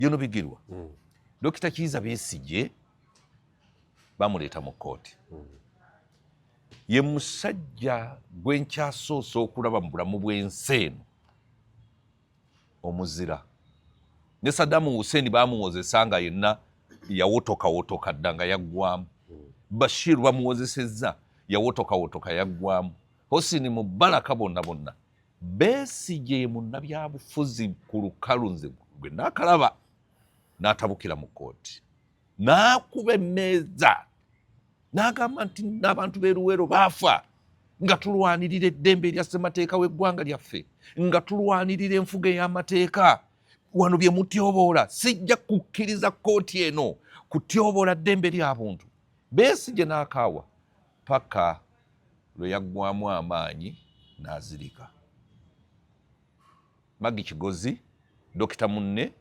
Yono Bigirwa mm. Dokita Kiiza Besigye bamuleeta mu kkooti mm. ye musajja gwe nkyasoose okulaba mu bulamu bw'ensi eno omuzira ne Saddamu Hussein bamuwozesa nga yenna yawotokawotoka dda nga yaggwamu Bashir bamuwozesezza yawotokawotoka yaggwamu Hosini Mubaraka bonna bonna Besigye ye munnabyabufuzi ku lukalu nze gwe nakalaba n'atabukira mu kkooti n'akuba emmeeza n'agamba nti n'abantu b'e Luweero baafa nga tulwanirira eddembe erya ssemateeka w'eggwanga lyaffe nga tulwanirira enfuga ey'amateeka wano bye mutyoboola sijja kukkiriza kkooti eno kutyoboola ddembe lya buntu Besigye n'akaawa paka lwe yaggwamu amaanyi n'azirika. Maggie Kigozi dokita munne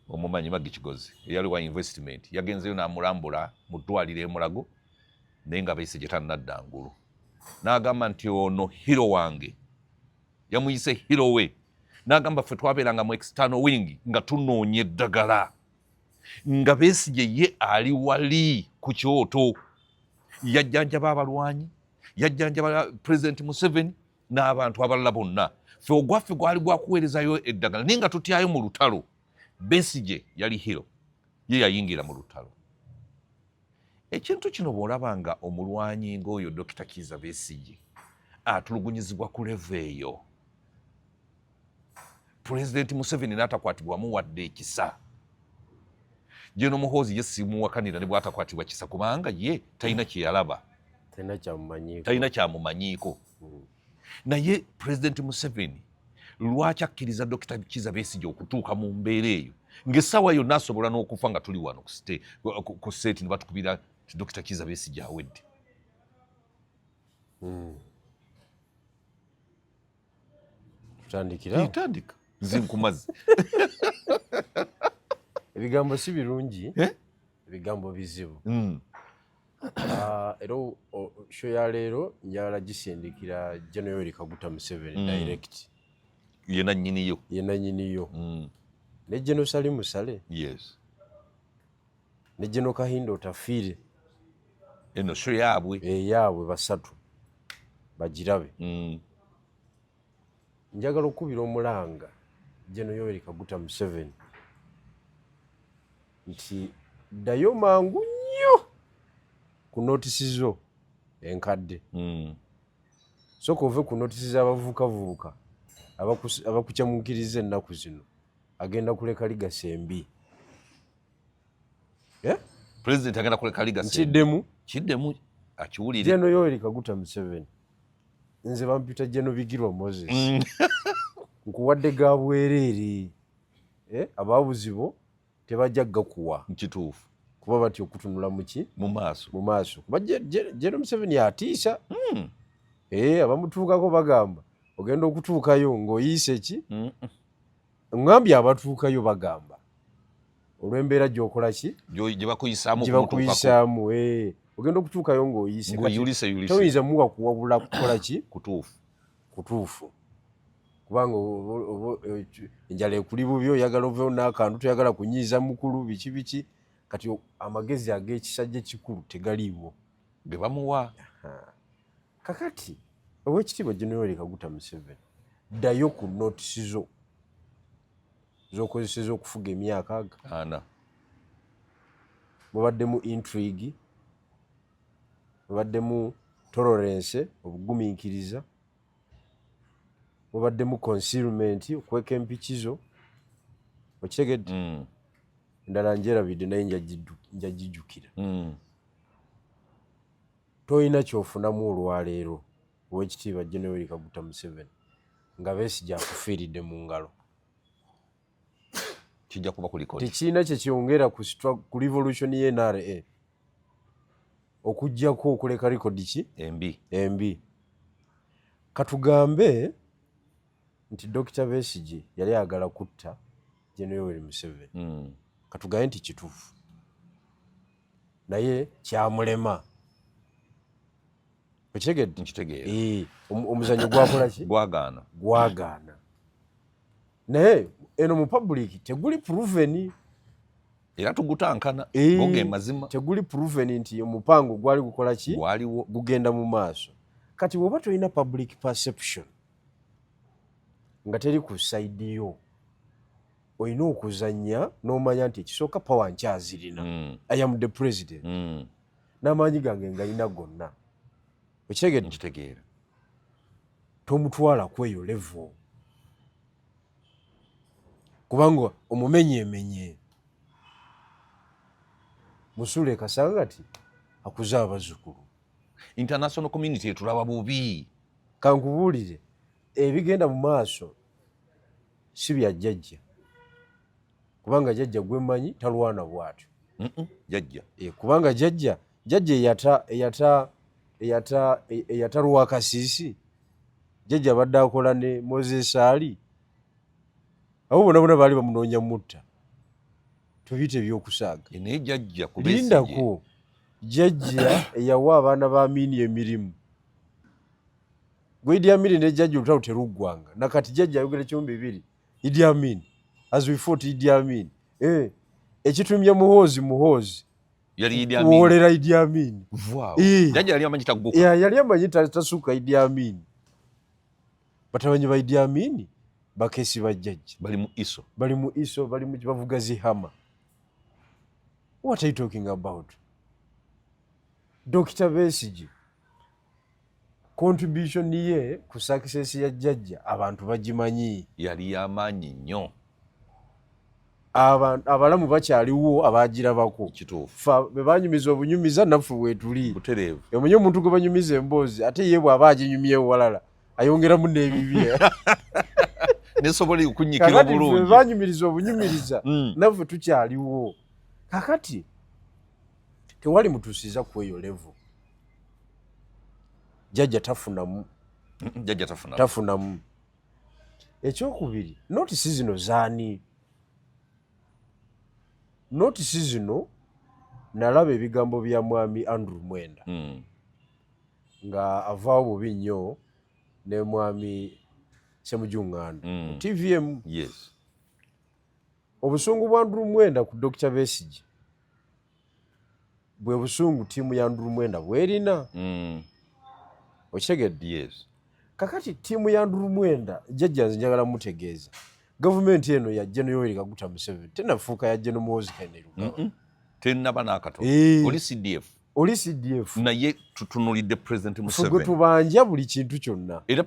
omumanyi Maggie Kigozi eyali wa investment yagenzeyo n'amulambula mu ddwaliro e Mulago naye nga Besigye tannadda ngulu n'agamba nti ono hero wange yamuyise hero we n'agamba ffe twabeeranga mu external wing nga tunoonya eddagala nga besigye ye ali wali ku kyoto yajjanjaba abalwanyi yajjanjaba pulezidenti museveni n'abantu abalala bonna fe ogwaffe gwali gwakuweerezayo eddagala naye nga tutyayo mu lutalo besigye yali hiro ye yayingira mu lutalo ekintu kino bw'olaba nga omulwanyi ng'oyo dokita kiiza besigye atulugunyizibwa ku levo eyo pulezidenti museveni natakwatibwamu wadde ekisa jeno muhoozi ye simuwakanira ne bwatakwatibwa kisa kubanga ye talina kyeyalaba talina kyamumanyiiko hmm. naye pulezidenti museveni lwaki akkiriza dokita kiza besija okutuuka mu mbeera eyo ngaessaawa yonna asobola n'okufa nga tuli wano ku seeti ne batukubira ti dokita kiza besija awedde hmm. tutandikira tandika nzinkumazi ebigambo si birungi eh? ebigambo bizibu hmm. ah, era sho ya leero njala gisindikira january kaguta museveni hmm. direct yenanyiniyo yenanyiniyo hmm. ne genosali musale yes ne General Kahinda Otafiire. Eno sho yaabwe eyaabwe eh, basatu bagirabe. Mm. Njagala okukubira omulanga General Yoweri Kaguta Museveni nti ddayo mangu nnyo ku notisi zo enkadde mm. soka ove ku notisi z'abavubukavubuka abakukyamuukiriza ennaku zino agenda kuleka ligasi embi eh? president agenda kuleka ligasi kiddemu kiddemu akiwulire jeno yoeri kaguta museveni nze bampita jeno bigirwa moses mm. nkuwadde ga bwereere eh? ababuzibo tebajja gakuwa kituufu kuba batya okutunula muki mu maaso mu maaso kuba jeno museveni atiisa mm. eh, abamutuukako bagamba ogenda okutuukayo ng'oyiise ki mm. ŋambye abatuukayo bagamba olw'embeera gyokola ki gyebakuyisaamu eh. ogenda okutuukayo ng'oyisetoyinza muwa kuwabula kukola ki kutuufu kutuufu kubanga enjala ekuli bubi oyagala ovewo n'akantu toyagala kunyiiza mukulu biki biki kati amagezi ag'ekisajja ekikulu tegaliiwo ge bamuwa kakati owekitiibwa generali kaguta museveni ddayo ku notisi zo zokozeseza okufuga emyaka aga ana mubaddemu intrigue mubaddemu tolerance obugumiikiriza mubaddemu concealment okweka empiki zo okitegedde mm. endala njerabidde naye njagijukira mm. Tolina kyofunamu olwaleero owekitiibwa Gen Yoweri Kaguta Museveni nga Besigye akufiiridde mu ngalo. Kijja kuba kuliko tekirina kyekyongera ku revolution ye NRA okujjako okuleka likodi ki embi embi. Katugambe nti Dokita Besigye yali agala kutta Gen Yoweri Museveni, hmm. katugambe nti kituufu naye kyamulema okitegedde nkitegeera eh, omuzanyo gwakola ki gwagaana gwagaana naye eno mu public teguli proven era tugutankana eh, goge mazima teguli proven nti omupango gwali gukola ki gwaliwo gugenda mu maaso kati woba tolina public perception nga teri ku side yo olina okuzanya nomanya nti ekisooka power nkyazirina mm. i am the president mm. n'amaanyi gange ngalina gonna okitegedekitegeera tomutwala kweyo levo kubanga omumenyemenye musula ekasanga ti akuze abazukulu international community etulaba bubi kankubuulire ebigenda mu maaso si bya jjajja kubanga jjajja gwe mmanyi talwana bwatyo jjajja eh, kubanga jjajja jjajja eyata eyata eyata eyata lwakasiisi jjajja abadde akola ne moses ali abo bona bona baali bamunoonya mutta tubiyita ebyokusaaga eh, naye jjajja lindako jjajja eyawa abaana ba miini emirimu gwe idi amini ne jajja olutalo teruggwanga nakati jajja ayogera kimu bibiri idi amini as we fought idi amini eh, ekitumye muhoozi muhoozi kuwolera idi amini eh. yali amanyi tasuka idi amini batabanyi ba idi amini bakesi ba jajja bali mu iso bali mu iso bali mu bavuga zihama what are you talking about dokita besigi contribution ye ku success ya jajja abantu bagimanyi yali yamaanyi nnyo abalamu bakyaliwo abagirabako bebanyumiza obunyumiza naffe wetuli omanyi omuntu gwe banyumiza emboozi ate ye bwaba aginyumyewo walala ayongeramu n'ebibye nesobola okunyikira obulungi bebanyumiriza obunyumiriza mm. naffe tukyaliwo kakati tewali mutusiza kweyo levo jajja tafunamu jajja tafunamu tafunamu ekyokubiri notisi zino zaani notisi zino nalaba ebigambo bya mwami andrew mwenda mm. nga avaawo bubi nnyo ne mwami semujungano mm. tvm yes. obusungu bwa andrew mwenda ku dr besigi bwe busungu ttiimu ya ndulumwenda bwerina mm. okitegedde yes. kakati ttiimu ya ndulumwenda jjajja nze njagala mutegeeza gavumenti eno ya jeno yoweri kaguta museveni tenafuuka ya jeno muwozi kaneruga tenaba nakato eh. oli cdf oli cdf naye tutunulidde president museveni tubanja buli kintu kyonna era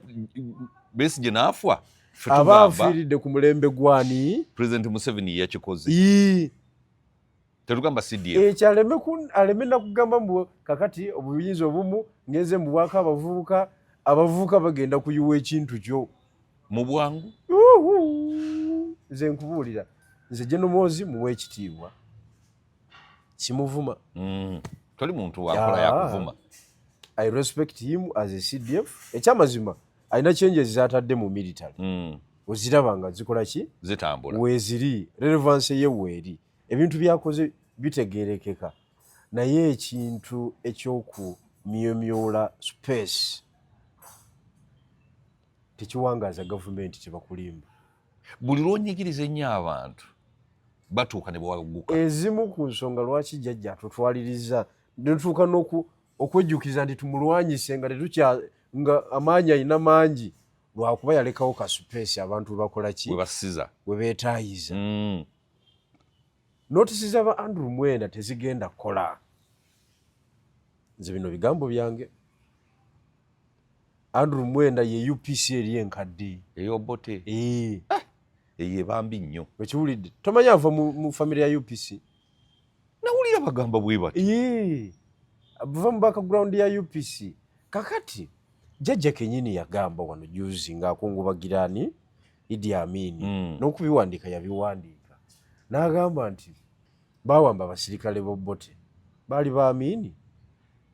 besi gye naafwa aba afiiridde ku mulembe gwani president museveni yakikoze tetugamba CDF ekyo aleme ku aleme nakugamba mbu kakati obuyinza obumu ngenze mu bwaka abavubuka abavubuka bagenda kuyiwa ekintu kyo mu bwangu nze nkubuulira nze General Muhoozi muwa ekitiibwa simuvuma mm. toli muntu wakola yakuvuma I respect him as a CDF ekyamazima alina changes zatadde mu military mm. oziraba nga zikola ki zitambula weziri relevance ye weeri ebintu byakoze bitegerekeka naye ekintu ekyoku myemyola space tekiwangaza gavumenti tebakulimba buli lwonyigiriza ennyo abantu batuuka ne bwaguka ezimu ku nsonga lwaki jajja atutwaliriza netutuuka noku okwejjukiza nti tumulwanyise nga tetukya nga amaanyi alina mangi lwakuba yalekawo kasupeesi abantu webakola ki webasiza webetaayiza mm. notisi za ba andrew mwenda tezigenda kukola nze bino bigambo byange andrew mwenda ye upc eri enkadde eyobote eh. ah, eyo ebambi nnyo okiwulidde tomanya ava mu famiry ya upc nawulira bagamba bwebati eh. buva mu background ya upc kakati jajja kenyini yagamba wano juzi ng'akungubagirani idi amini mm. n'okubiwandiika yabiwandiika n'agamba nti bawamba abasirikale bobote baali ba amini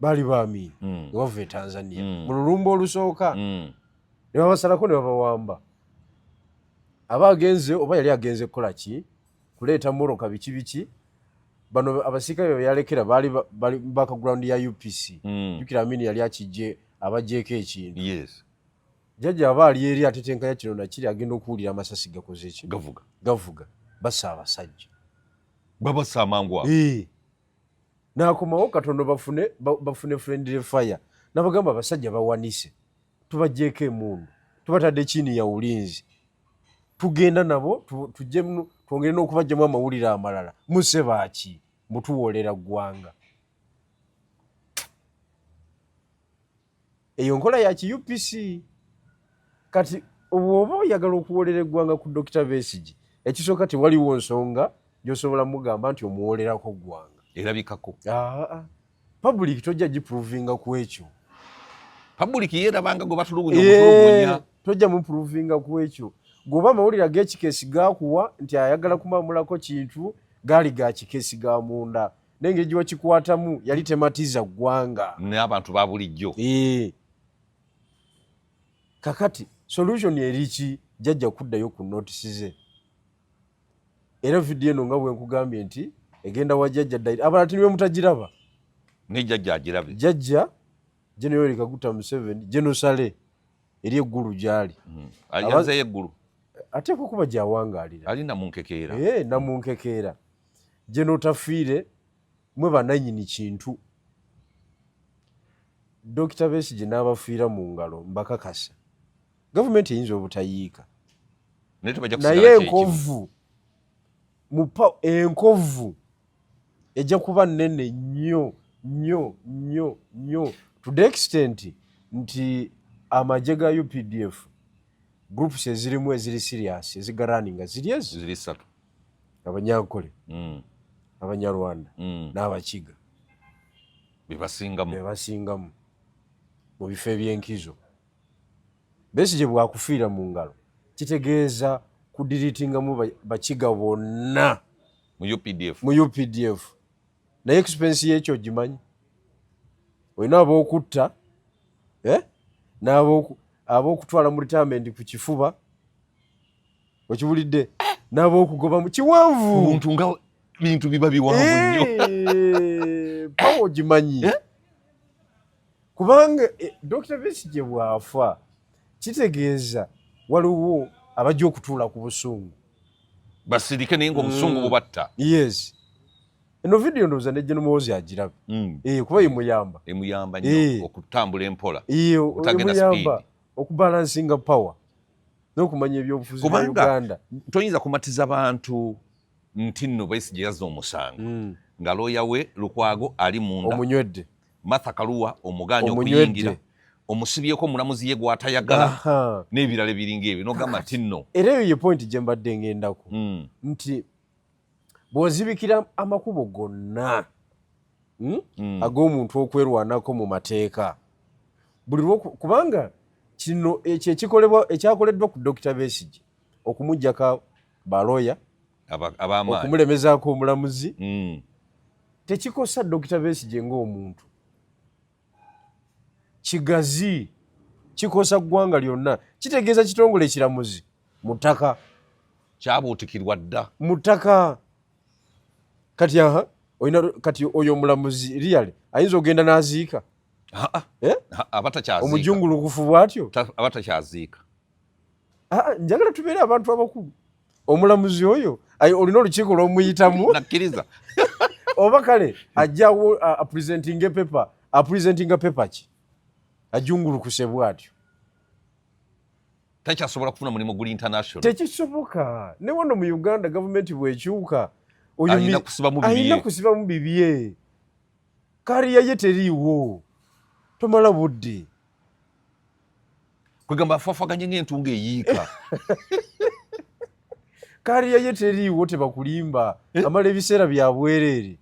baali ba amini mm. wava e tanzania mm. mu lulumba olusooka mm. ne babasalako ne babawamba aba agenze oba yali agenze kukola ki kuleeta moroka biki biki bano abasirikale beyalekera baali bakaground ya upc mm. jukira amini yali akijje abajjeeko ekintu yes. jajja aba ali eri atetenkanya kino nakiri agenda okuwulira amasasi gakoze eki gavuga gavuga basa abasajja babasa amangu awo eh. nakomawo katondo bafune bafune friendly fire nabagamba abasajja bawanise tubajjeeko emundu tubatadde chini ya ulinzi tugenda nabo tujje twongere n'okubajjamu amawulire amalala muse baaki mutuwoolera ggwanga eyo nkola ya ki UPC kati obwoba oyagala okuwolera eggwanga ku Dokita Besigye ekisooka tewaliwo nsonga gyosobola mugamba nti omuwolerako ggwanga erabikako ah, ah. public tojja giprovinga ku ekyo public yerabanga gwe batulugunya eh, tojja muprovinga ku ekyo gwoba amawulire ag'ekikeesi gakuwa nti ayagala kumamulako kintu gaali ga kikeesi ga munda nengeri gyebakikwatamu yali tematiza ggwanga naye abantu babulijjo eh. kakati solution eriki jajja kuddayo ku notisi ze era vidiyo eno nga bwenkugambye nti egenda wa jajja dayiri abala tini bemutagiraba naye jajja agirabe jajja jenerali kaguta museveni jenosale eri eggulu gyali hmm. ayanzeyo eggulu ateekwa kuba gyawangalira ali namunkekeera eh, namunkekeera General Tafiire mwe bananyini kintu Dokita Besigye n'abafiira mu ngalo mbakakasa gavumenti eyinza obutayiika naye enkovu mupa enkovu ejja kuba nene nnyo nnyo nnyo nnyo to the extent nti amagye ga updf groups ezirimu eziri serious ezigaraninga ziri ezo abanyankole mm. abanyarwanda mm. n'abakiga bebasingamu bebasingamu mu bifo ebyenkizo besigye bwakufiira mu ngalo kitegeeza kudiritingamu bakiga bonna mu updf mu updf naye expense yekyo ogimanyi olina abokutta eh? n'abokutwala mu retirement ku kifuba okiwulidde naba okugoba mu kiwanvu omuntu nga bintu biba biwanvu nnyo eh, pawa ogimanyi eh? kubanga eh, dr besigye bwafa kitegeeza waliwo abajja okutuula ku busungu basirike naye nga obusungu mm. bubatta yes eno vidiyo ndowooza ne jeno muwozi agiraba mm. kuba emuyamba emuyamba nyo okutambula empola emuyamba okubalansinga power nokumanya ebyobufuzi bya Uganda. Toyinza kumatiza bantu nti nno Besigye yazza omusango mm. nga looya we Lukwago ali munda omunywedde, Martha Kaluwa omugaanya okuyingira omusibyeko omulamuzi ye gwatayagala n'ebirala ebiringa ebyo nogamba nti nno. Era eyo ye pointi gye mbadde ngendako mm. nti bw'ozibikira amakubo gonna hmm, hmm. ag'omuntu okwerwanako mu mateeka buli kubanga kino ekyo ekikolebwa ekyakoleddwa ku dokita Besigye okumugyaka baloya okumulemezaako omulamuzi hmm. tekikosa dokita Besigye ng'omuntu kigazi kikosa ggwanga lyonna kitegeeza kitongole ekiramuzi mu ttaka kyabuutikirwa dda mu ttaka kati aha olina kati oyo omulamuzi riyaly ayinza okugenda n'aziika eh? abatakyaziika omujungulukufu bwatyo abatakyaziika ah, njagala tubeere abantu abakulu omulamuzi oyo olina olukiiko lwomuyitamu nakkiriza oba kale ajjawo apresentinge pepe apresentinga pepe ki ajungulukuse bwatyo takyasobola kufuna mulimu guli international tekisoboka ne wano mu uganda gavumenti bwekyuka alina kusibamu bibye kariya ye teriiwo tomala budde kwegamba afafaganye ngaentunga eyiika kariya ye teriiwo tebakulimba eh? amala ebiseera byabwereere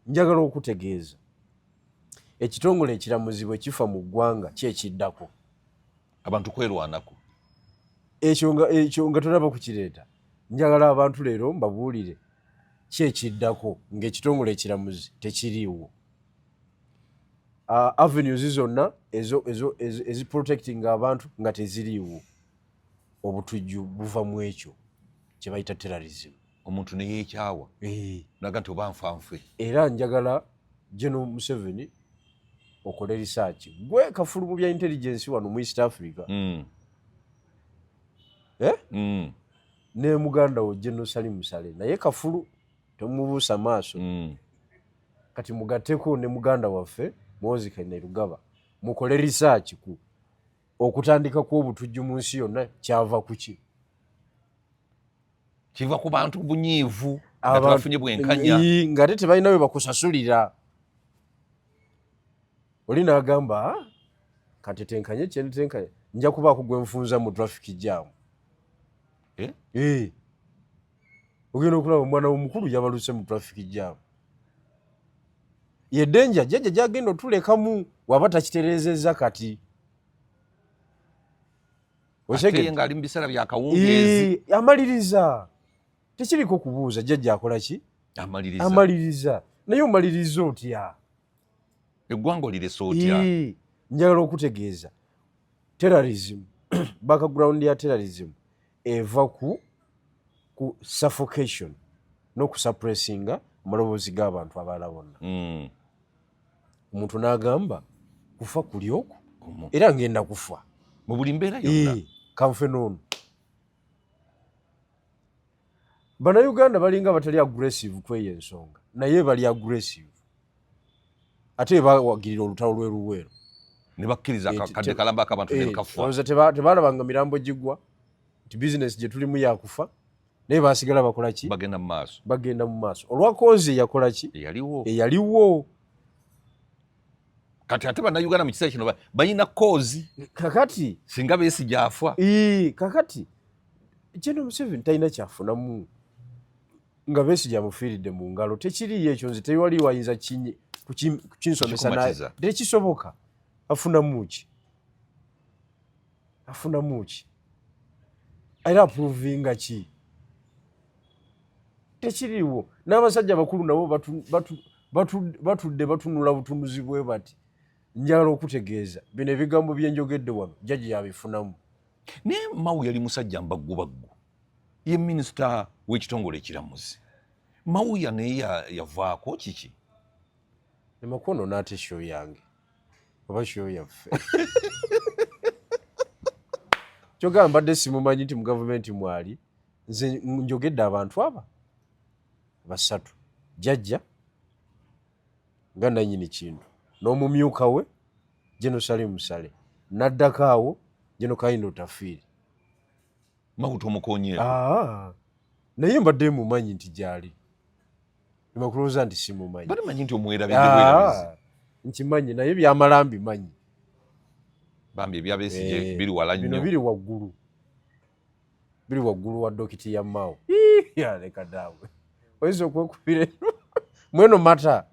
njagala okutegeeza ekitongole ekiramuzi bwe kifa mu ggwanga kyekiddako abantu kwerwanako ekyo nga tolaba kukireeta njagala abantu leero mbabuulire kyekiddako ngaekitongole ekiramuzi tekiriiwo uh, avenues zonna ezo ezo ezi protecting abantu nga teziriiwo obutujju buva mu ekyo kye bayita terrorism omuntu ne yeekyawa eh. naga nti oba nfa nfe era njagala general museveni okole research gwe kafulu mu bya intelligence wano mu east africa mm. eh? mm. ne muganda wo general salim musale naye kafulu tomubuusa maaso mm. kati mugateko ne muganda waffe mozika ne lugaba mukole risaaki ku okutandika kw'obutujju mu nsi yonna kyava kuki kiva ku bantu bunyiivu abafunye bwenkanya nga ate tebalina we bakusasulira oli nagamba ah, kati tenkanye kyeni tenkanye nja kubaako gwenfunza mu traffic jam eh? Eh. ogenda okulaba omwana womukulu yabaluse mu traffic jam yedenja jajja jagenda otulekamu waba takiterezeza kati amaliriza tekiriko kubuuza jajja akola ki amaliriza naye omaliriza otya eggwanga oliresa otya njagala okutegeeza terrorism background ya terrorism eva ku ku suffocation n'okusuppressinga amaloboozi g'abantu abalala bonna mm. omuntu n'agamba kufa kuli oku era ngenda kufa mu buli mbeera yonna eh, kanfe n'ono bannayuganda balinga batali aggressive kweyo ensonga naye bali aggressive ate bebawagirira olutalo lweluweero nebakkiriza eh, kadde kalamba akabantu eh, nekafuaoza tebalabanga mirambo gigwa nti bizinesi gyetulimu yakufa naye basigala bakolaki bagenda mu maaso bagenda mu maaso olwakozi eyakolaki eyaliwo eyaliwo kati ate bannayuganda mu kiseera kino balina kozi kakati singa besi gyafa kakati kyeno museveni talina kyafunamu nga Besigye amufiiridde mu ngalo tekiriyo ekyo nze tewali wayinza kukinsomesa naye tekisoboka afunamu ki afunamu ki era apuruvinga ki tekiriwo n'abasajja abakulu nabo batudde batunula butunuzi bwe bati njagala okutegeeza bino ebigambo byenjogedde wano jaji yabifunamu naye mawu yali musajja mbaggubaggu ye minisita w'ekitongole ekiramuzi mawuya naye yavaako kiki emakono naate sho yange oba sho yaffe kyogamba mbadde simumanyi nti mu gavumenti mwali nze njogedde abantu aba basatu jajja nga nanyini kintu n'omumyuka we jeno salimu sale naddako awo jeno kayina otafiiri makuta omukonye ah, naye mbadde mumanyi nti gyali nebakulowooza nti simumanyi bali manyi nti omwerabidebwerabizi ah, nkimanyi naye byamala mbimanyi bambi ebyabesigye eh, biri wala nnyo bino biri waggulu biri waggulu wa dokiti ya mao leka daawe oyinza okwekubira mweno mata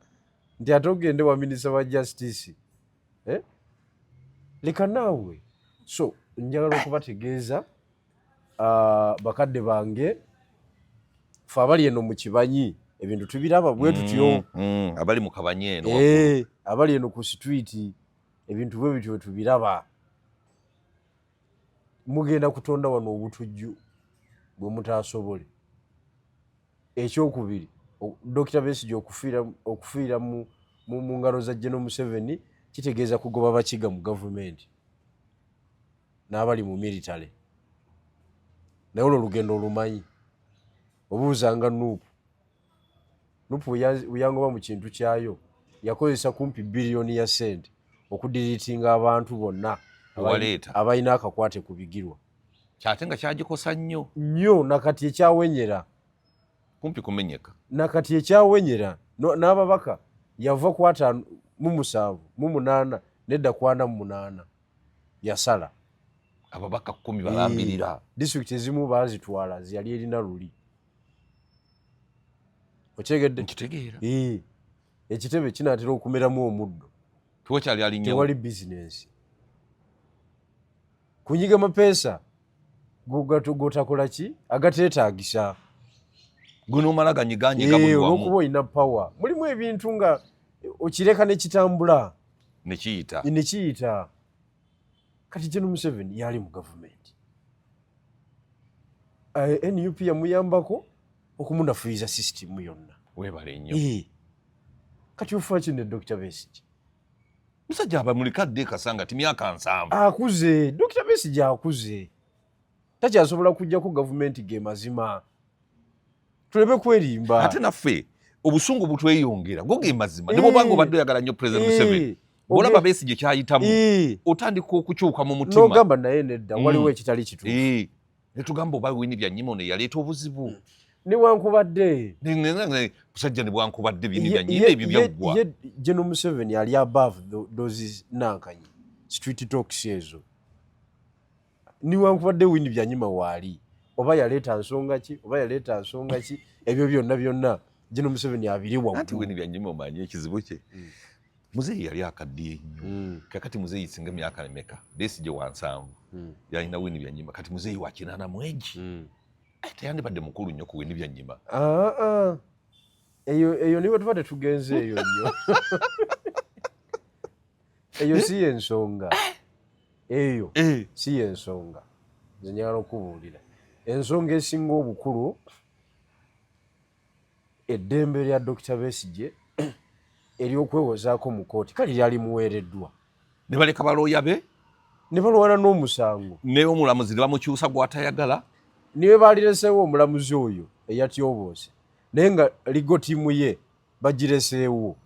nti ate ogende wa minisita wa justice eh? leka naawe so njagala okubategeeza ah, bakadde bange fe abali eno mu kibanyi ebintu tubiraba bwe tutyo mm, mm. abali mu kabanyi eno eh, abali eno ku situiti ebintu bwe bityo bwe tubiraba mugenda kutonda wano obutujju bwe mutaasobole Ekyokubiri, Dokita Besigye okufiira mu ngalo za Geno Museveni kitegeeza kugoba bakiga mu gavumenti n'abali mu miritale. Naye olwo olugendo olumanyi obuuza nga nuupu nuupu weyangoba mu kintu kyayo yakozesa kumpi biliyoni ya sente okudiriitinga abantu bonna abalina akakwate ku bigirwa. kyate nga kyagikosa nnyo nnyo nakati ekyawenyera kumpi kumenyeka nakati ekyawenyera n'ababaka yava ku ataano mu musanvu mu munaana nedda ku ana mu munaana yasala ababaka kumi balambirira disitulikiti ezimu baazitwala zeyali erina luli okyegedde nkitegeera ekitebe kinaatera okumeramu omuddo tewakyali alinyo tewali bizinensi kunyiga mapeesa gotakola ki agateetagisa gunomala ganyiganyigaolwokuba olina power mulimu ebintu nga okireka nekitambula nekiyita nekiyita kati geno museveni yali mu gavumenti eh, nup yamuyambako okumunafuyiza sisitimu yonna webale nnyo kati ofaki ne dr besiki musajja aba mulika dde kasanga ti myaka nsanvu akuze dokita besi gyakuze takyasobola kujjako gavumenti ge mazima tuleme kwerimba ate naffe obusungu butweyongera go ge mazima ne bwobanga eh. obadde oyagala nnyo president eh. museveni bwolaba besi gye kyayitamu eh. otandika okukyuka mu mutima nogamba naye nedda waliwo mm. ekitali kituufu netugamba oba wini byanyima ono eyaleeta obuzibu hmm. newankubadde busajja nebwankubadde byini byanyina ebyo byaggwa geno museveni ali above those nankanyi street talks ezo newankubadde wini byanyima waali oba yaleeta nsonga ki oba yaleeta nsonga ki ebyo byonna byonna geno museveni abiri waggulu wini byanyima omanyi ekizibu kye hmm. muzeeyi yali akaddiye nnyo hmm. kakati muzeeyi singa myaka emeka besigye wa nsanvu hmm. yalina wini byanyima kati muzeeyi wa kinaana mwegi hmm. eh, teyandibadde mukulu nnyo ku wini byanyima ah, ah. eyo niwe tuba tetugenze eyo nnyo eyo si yensonga eh? eyo eh. si yensonga nze njagala okubuulira ensonga esinga obukulu eddembe lya Dokita Besigye ery'okwewozaako mu kooti kale lyali muweereddwa ne baleka balooya be ne balwana n'omusango naye omulamuzi ne bamukyusa gw'atayagala ne bwe baalireseewo omulamuzi oyo eyatyoboose naye nga ligo tiimu ye bagireseewo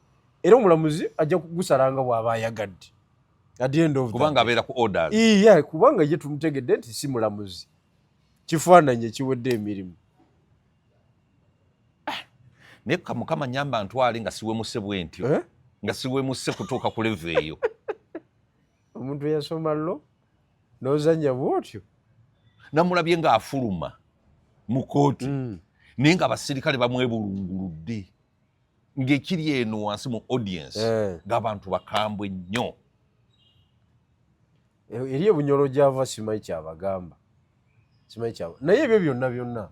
era omulamuzi ajja kugusala nga bw'aba ayagadde kubanga abeera ku orders iya kubanga ye tumutegedde nti si mulamuzi kifaananyi ekiwedde emirimu ah, naye mukama nyamba ntwale nga siwemuse bwentyo eh? nga siwemuse kutuuka ku leve eyo omuntu eyasoma lo nozanya bwotyo namulabye nga afuluma mu kooti mm. naye nga abasirikale bamwebulunguludde ngekiri eno wansi mu audience eh. ng'abantu bakambwe nnyo E, eri ebunyolo gyava simanyi kyabagamba simanyi kyaba naye ebyo byonna byonna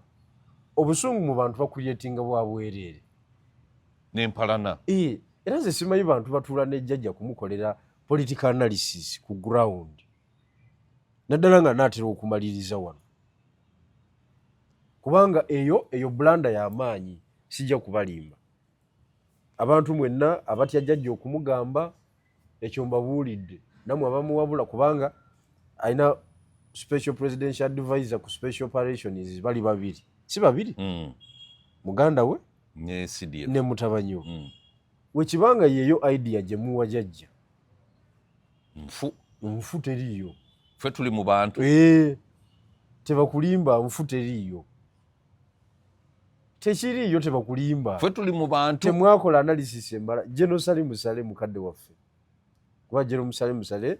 obusungu mu bantu bakulyetinga bwa bwereere nempalana e, era nze simanyi bantu batuula nejjajja kumukolera political analysis ku ground naddala nga naatera okumaliriza wano kubanga eyo eyo bulanda y'amaanyi sijja kubalimba abantu mwenna abatya jjajja okumugamba ekyo mbabuulidde namwe abamuwabula kubanga alina special presidential advisor ku special operations bali babiri si babiri mm. muganda we ne mutabanyi we mm. wekibanga yeyo idea gyemuwa jajja nfu nfu teriiyo fe tuli mu bantu eh, tebakulimba nfu teriiyo tekiriiyo tebakulimba fe tuli mu bantu temwakola analysis embala jenosale musale mukadde waffe kuba jeno musale musale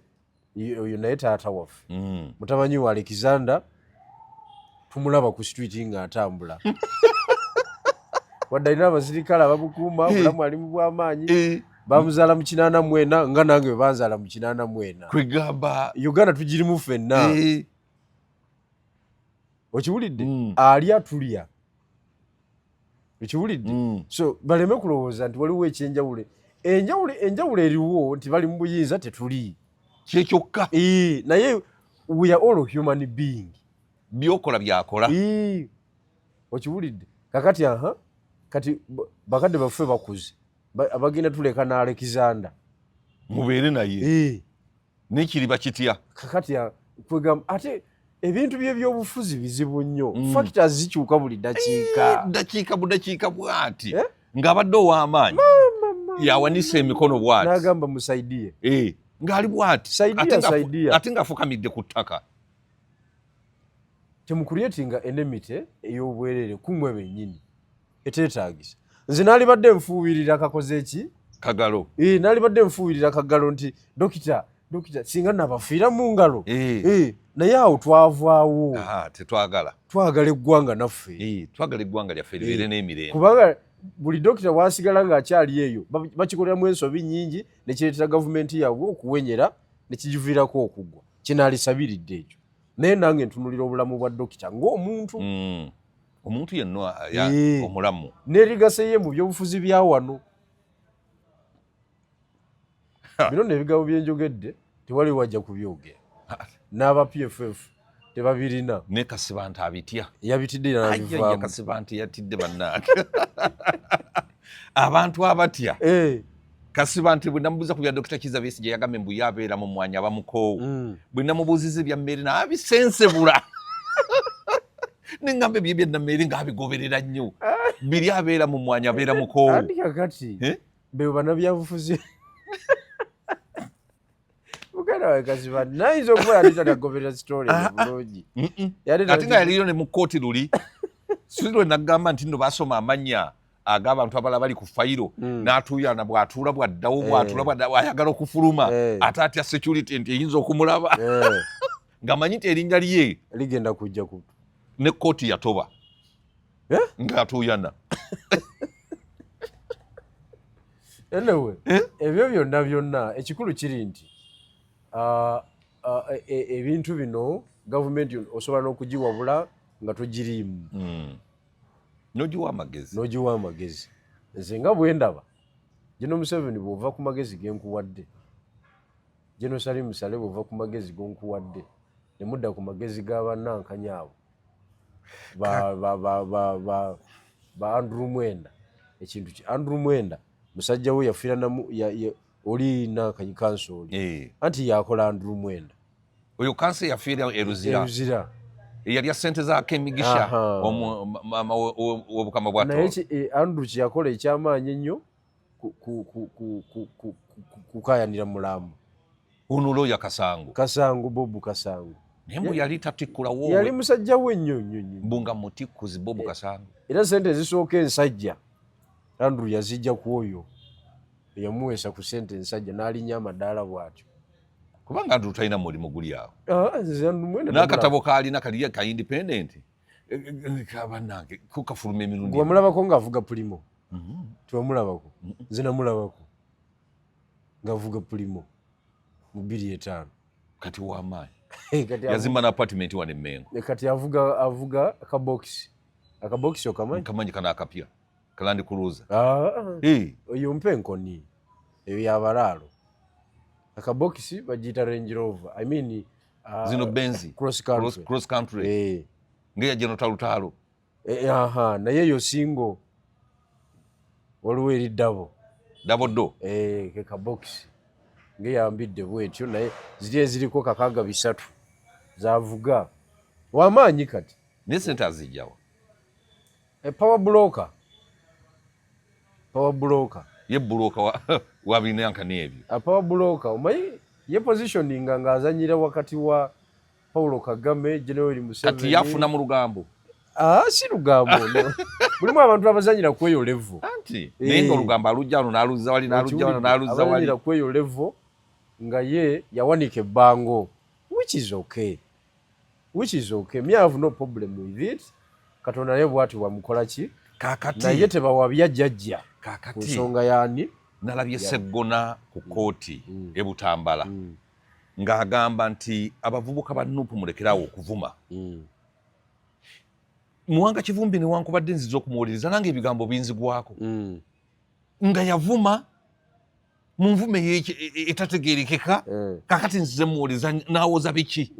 oyo naye taata waffe mm. mutamanyi wa alexander tumulaba ku street nga atambula wadde alina abasirikale abamukuuma obulamu ali mu bwamaanyi bamuzaala mu kinaana mwena nga nange webanzaala mu kinaana mwena kwegamba uganda tugirimu fenna okiwulidde mm. alya tulya okiwulidde mm. so baleme kulowooza nti waliwo ekyenjawulo enjawulo enjawulo eriwo nti bali mu buyinza tetuli kyekyokka naye we are all human being byokola byakola okiwulidde kakati aha kati bakadde baffe bakuze abagenda tuleka na alexander mubeere naye eh. nekiriba kitya kakati kwegamba ate ebintu byebyobufuzi bizibu nnyo mm. fakita zikyuka buli dakiika dakiika budakiika bwati eh? ng'abadde ow'amaanyi yawanise emikono bwati nagamba musaidiye eh, ng'ali bwati ate ng'afukamidde ku ttaka temukuryetinga enemite ey'obwerere kumwe bennyini eteetaagisa nze naalibadde nfuubirira kakoze eki kagalo ee naalibadde nfuubirira kagalo nti dokita dokita singa nabafiira mu ngalo ee naye awo twavaawo tetwagala twagala eggwanga naffe twagala eggwanga lyaffe libeere n'emirembe kubanga buli dokita wasigala ng'akyali eyo bakikoleramu ensobi nyingi nekireetera gavumenti yaabwe okuwenyera nekigiviirako okuggwa kinaalisabiridde ekyo naye nange ntunulira obulamu bwa dokita ng'omuntu mm. omuntu yenna eh. omulamu nerigaseye mu byobufuzi bya wano bino nebigabo byenjogedde tewali wajja kubyogera n'aba pff tebabirina ne kasibante abitya yabitidde nabivaamu kasibante yatidde bannaake abantu abatya eh. Kasibante bwe namubuuza ku bya Dokita Kizza Besigye yagambye mbu ye abeera mu mwanya abamukoowu mm. bwe namubuuziza ebya mmeeri naabisensebula ne ngamba ebyo ebya nammeeri ng'abigoberera nnyo biri abeera mu mwanya abeera mukoowu andi kakati eh? be banabyabufuzi muganda wawe kaziba nayinza okuba yali tatagoberera sitole ah, ah. bulungi ate nga yaliyo ne mu kkooti luli silwe nagamba nti nno basoma amanya ag'abantu abala bali ku fayiro hmm. n'atuuyana bw'atuula bw'addawo eh. bw'atuula bw'addawo ayagala okufuluma eh. ate atya security nti eyinza okumulaba eh. ng'amanyi nti erinnya lye ligenda kujja ku ne kkooti yatoba eh? nga atuyana enewe eh? ebyo byonna byonna ekikulu kiri nti ah, ah, e, e, ebintu bino gavumenti osobola n'okugiwabula nga togiriimu hmm. nogiwa amagezi nogiwa amagezi nze nga bwendaba gino museveni bwova ku magezi genkuwadde genosali musale bwova ku magezi gonkuwadde nemudda ku magezi g'abanankanya abo ba andrew mwenda ekintu ki andrew mwenda musajja we yafiira namu oli nakanyi kansi oli eh. anti yakola andrew mwenda oyo kansi yafiira eruzira eyalya sente zako emigisha obukama bwanaye eh, andrew kyeyakola ekyamaanyi ennyo kukayanira mulamu ono looya kasango kasango bobu kasango naye mbu yali tatikkulawo yali musajja we nnyo nnyo nnyo mbu nga mutikkuzi bobu eh, kasango era sente ezisooka ensajja andrew yazijja ku oyo eyamuweesa ku sente ensajja n'alinya amadaala bw'atyo kubanga andrew talina mulimu guli awo ah, n'akatabo kaalina kali ka independent eh, eh, kabanange kukafuluma emirundi wamulabako ng'avuga pulimo mm-hmm. tewamulabako mm-hmm. nze namulabako ngavuga pulimo mu biri etaano kati wamaanyi yazimba na apartment wane mengo eh, kati avuga avuga akabokisi akabokisi okamanyi kamanyi kana akapya kalandi kuluza ah, ah. eh. oyo mpe enkoni eyo yabalaalo akabokisi bagiyita range rover i mean uh, zino benzi cross country, cross country. Hey. Eh. ngeya jeno talutaalo Eh, eh, aha naye eyo singo waliwo eri dabo dabo do eh, kekabokisi ngeyambidde bwetyo naye ziri eziriko kakaga bisatu zavuga wamaanyi kati naye sente azijjawa epower bloka power bloka ye bloka wabinankani ebyo apower bloka omanyi ye positioninga ngaazanyira wakati wa Paul Kagame, General Museveni. Kati yafuna mu lugambo. Ah, si lugambo. Mulimu abantu abazanyira ku eyo level. Anti, eh. naye nga olugambo alujja wano n'aluzza wali n'alujja wano n'aluzza wali. Abazanyira ku eyo level nga ye yawanika ebbango which is okay. Which is okay. Me I have no problem with it. Katonda naye bwati wamukola ki? Kakati. Naye tebawabya jjajja. Kakati. Ku nsonga yani. Nalabye Seggona ku kkooti mm. e Butambala. Mm. ng'agamba nti abavubuka ba nupu mulekeraawo okuvuma mm. muwanga kivumbi newankubadde nziza okumuwuliriza nange ebigambo binzigwako mm. nga yavuma mu nvuma e, e, etategerekeka mm. kakati nzize muwuliriza nawoza biki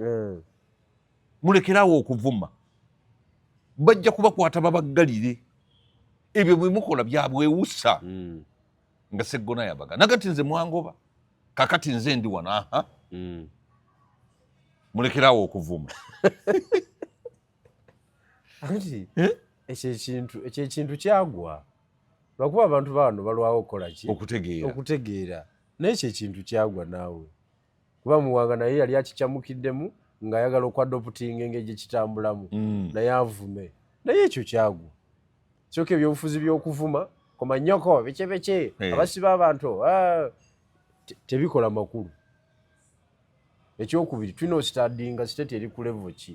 mulekeraawo okuvuma bajja kubakwata babaggalire ebyo bwemukola byabwewusa nga seggona yabaga nagati nze mwangoba kakati nze ndi wano aha mm. mulekerawo okuvuma anti eh? ekyekintu ekyekintu kyagwa lwakuba abantu baano balwawo okukolaki okutegeera okutegeera naye kyekintu kyagwa naawe kuba muwanga naye yali akicamukiddemu ng'ayagala okwadoputinga engeri gye kitambulamu mm. naye avume naye ekyo kyagwa kyoka ebyobufuzi by'okuvuma komanyoko bikyebikye eh. abasiba abantu ah, tebikola makulu ekyokubiri tulina ositadinga siteti eri kulevo ki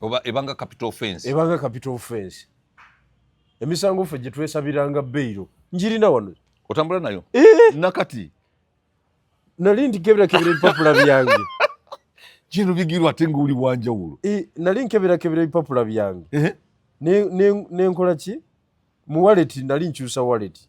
oba ebanga capital offense ebanga capital offense emisango ffe gye twesabiranga beyiro njirina wano otambula nayo eh! nakati nali ndikeberakebera ebipapula byange kino bigirwa ate ngaoli wanjawulo eh, nali nkeberakebera ebipapula byange eh? nenkola ki mu waleti nali nkyusa waleti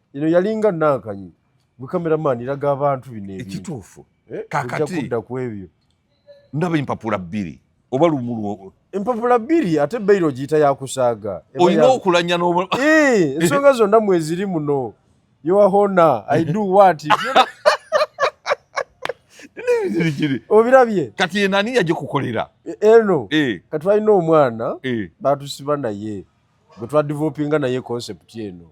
ino yalinga nankanyi gwe cameraman iraga abantu bino ekituufu eh, kakati kudda ku ebyo ndaba empapula bbiri oba lumulwo empapula bbiri ate beyiro ogiyita yakusaaga olina okulanya eh, ensonga zonna mweziri muno yoahona i do what obirabye kati enani yagikukolera e, eno eh. kati balina omwana batusiba naye gwe twadivelopinga naye concept eno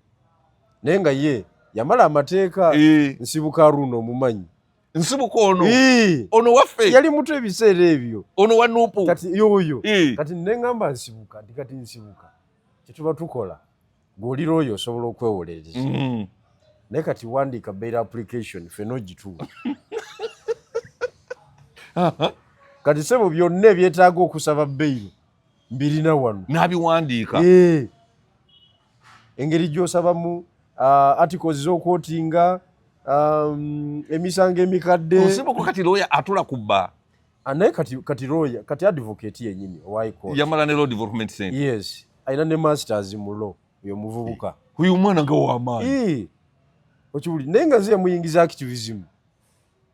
naye nga ye yamala amateeka eh. nsibuka aruno omumanyi nsibuka ono ono waffe yali mutu ebiseera ebyo ono wa nupu kati yoyo kati nengamba nsibuka ndi kati nsibuka kyetuba tukola gweolira oyo osobola okwewolereza mm. naye kati wandiika bail application fena ogituwa kati sebo byonna ebyetaaga okusaba bail mbirina wano n'abiwandiika eh. engeri gy'osabamu ah, articles z'okwotinga um, emisango emikadde osibuko kati looya atula ku bba ah, naye kati, kati looya kati advocate yenyini yamala ne law development center yes alina ne masters mu law oyo muvubuka oyo omwana nga wamaani okiwuli naye nga nze yamuyingiza activism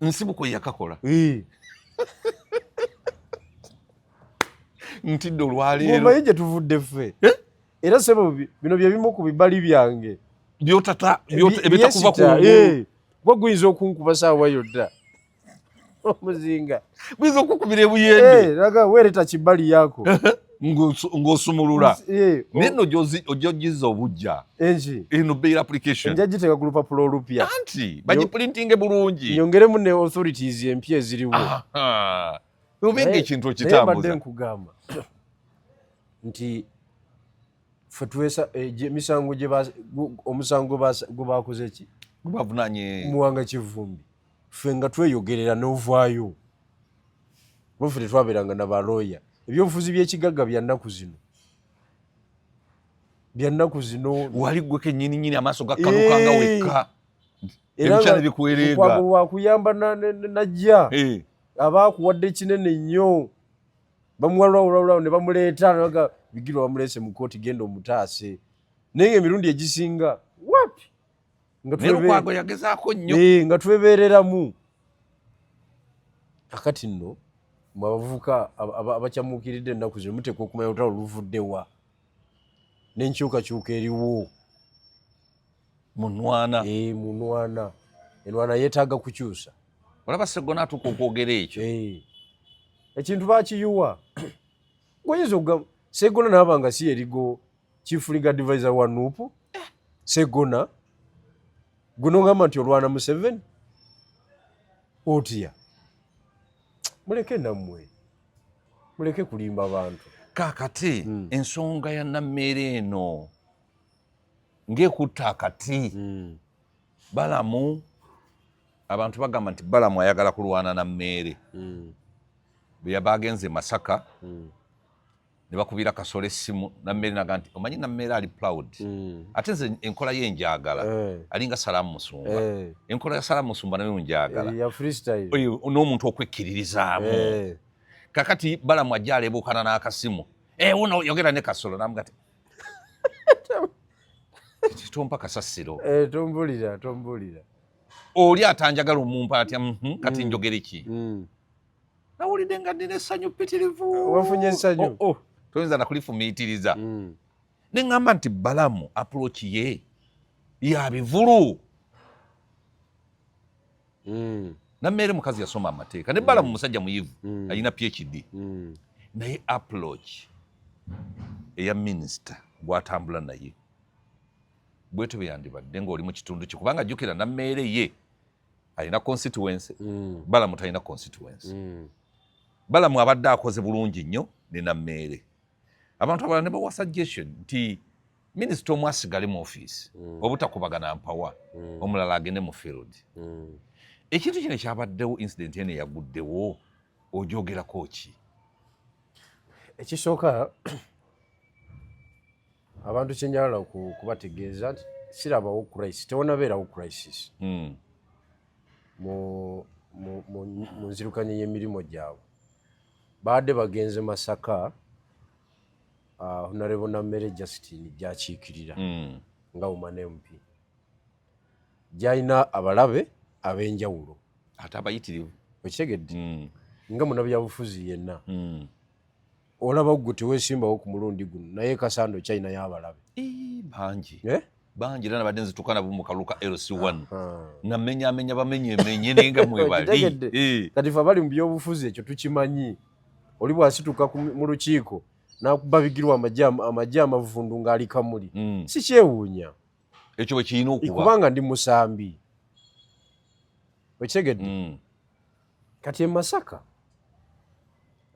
nsibuko yakakola ntidde olwaleeromaye gye tuvudde ffe eh? era sebo bino bye bimu ku bibali byange byotata ebitakuva ku eh, kuba guyinza okunkuba saawa yodda omuzinga guyinza okukubira ebuyende eh, raga weereta kibali yako ng'osumulula eh, naye oh. no ojja ogiza obujja eno bail application nja giteeka ku lupapula olupya anti bagiprintinge bulungi nyongeremu ne authorities empya eziriwo obe ngaekintu okitambuza nkugamba nti fe twesa eh, emisango omusango gwebakoze ki gwebavunanye muwanga kivumbi ffe nga tweyogerera n'ovaayo kuba ffe tetwabeeranga na balooya ebyobufuzi by'ekigagga bya nnaku zino bya nnaku zino wali gwe kennyini nyini amaaso gakkanukanga eh. wekka ebikyala bikuwereega wakuyamba najja eh. aba akuwadde kinene nnyo bamuwalulawulawulawo ne bamuleeta naga bigirwa bamuleese mu kooti genda omutaase naye nga emirundi egisinga wapi nelukwago yagezaako nnyo eh, nga twebereramu akati nno mwe abavubuka abakyamuukiridde ennaku zino muteekwa okumanya olutalo luvudde wa n'enkyukakyuka eriwo munwana eh, munwana enwana yeetaaga kukyusa olaba segona atuuka okwogera ekyo eh. ekintu bakiyuwa goyinza okugamba segona naaba nga si erigo chief legal advisor wa nup segona guno ngamba nti olwana museveni otya muleke nammwe muleke kulimba abantu kakati mm. ensonga ya nammeere eno ng'ekutta akati mm. balamu abantu bagamba nti balamu ayagala kulwana na mmeere mm. bwe yaba agenze masaka mm. ne bakubira kasolo essimu nammeere naga nti omanyi nammeere ali proud mm. ate nze enkola ye njagala eh. alinga salaamu musumba eh. enkola ya salaamu musumba nayo njagala eh, n'omuntu okwekkiririzaamu kakati balamu ajja alebuukana n'akasimu wona yogera ne kasolo namuga ti tompa kasasiro tombulira tombulira oli atanjagala omumpa atya mhm, kati mm. njogereki mm. nawulidde nga nnina essanyu ppitirivu wafunye essanyu oh, oh. toyinza nakulifumiitiriza mm. ne ŋŋamba nti balamu apuloki ye ya bivulu mm. nammeere mukazi yasoma amateeka ne balamu mm. musajja muyivu alina phd naye apuloki eya minisita gwatambula naye bwetyo bweyandibadde ngaoli mu kitundu kye kubanga jjukira nammeere ye alina constituency mm. balamu talina constituency mm. balamu abadde akoze bulungi nnyo nina mmeere abantu abalala ne bawa suggestion nti minisita omu asigale mu ofiisi mm. obutakubagana mpawa mm. omulala agende mu field mm. ekintu kino kyabaddewo incident eno eyaguddewo ojogerako ki ekisooka abantu kyenjagala kubategeeza nti sirabawo crisis tewanabeerawo crisis hmm. mu nzirukanya y'emirimu gyabwe baadde bagenze masaka ah, honarebo na mmere justine gyakiikirira hmm. nga umane mp gyalina abalabe ab'enjawulo ate abayitirivu okitegedde hmm. nga munabyabufuzi yenna olaba gwe tewesimbawo ku mulundi guno naye kasando china yabalabe bangi eh? bangi era nabadde nzituka nabo mu kaluka lc1 nga menyamenya bamenyemenye naye nga mwebali eh. kati fe abali mu byobufuzi ekyo tukimanyi oli bwasituka mu lukiiko nakubabigirwa amagye amavundu ng'ali kamuli hmm. si kyewuunya ekyo bwe kirina okuba kubanga ndi musambi okitegedde hmm. kati emasaka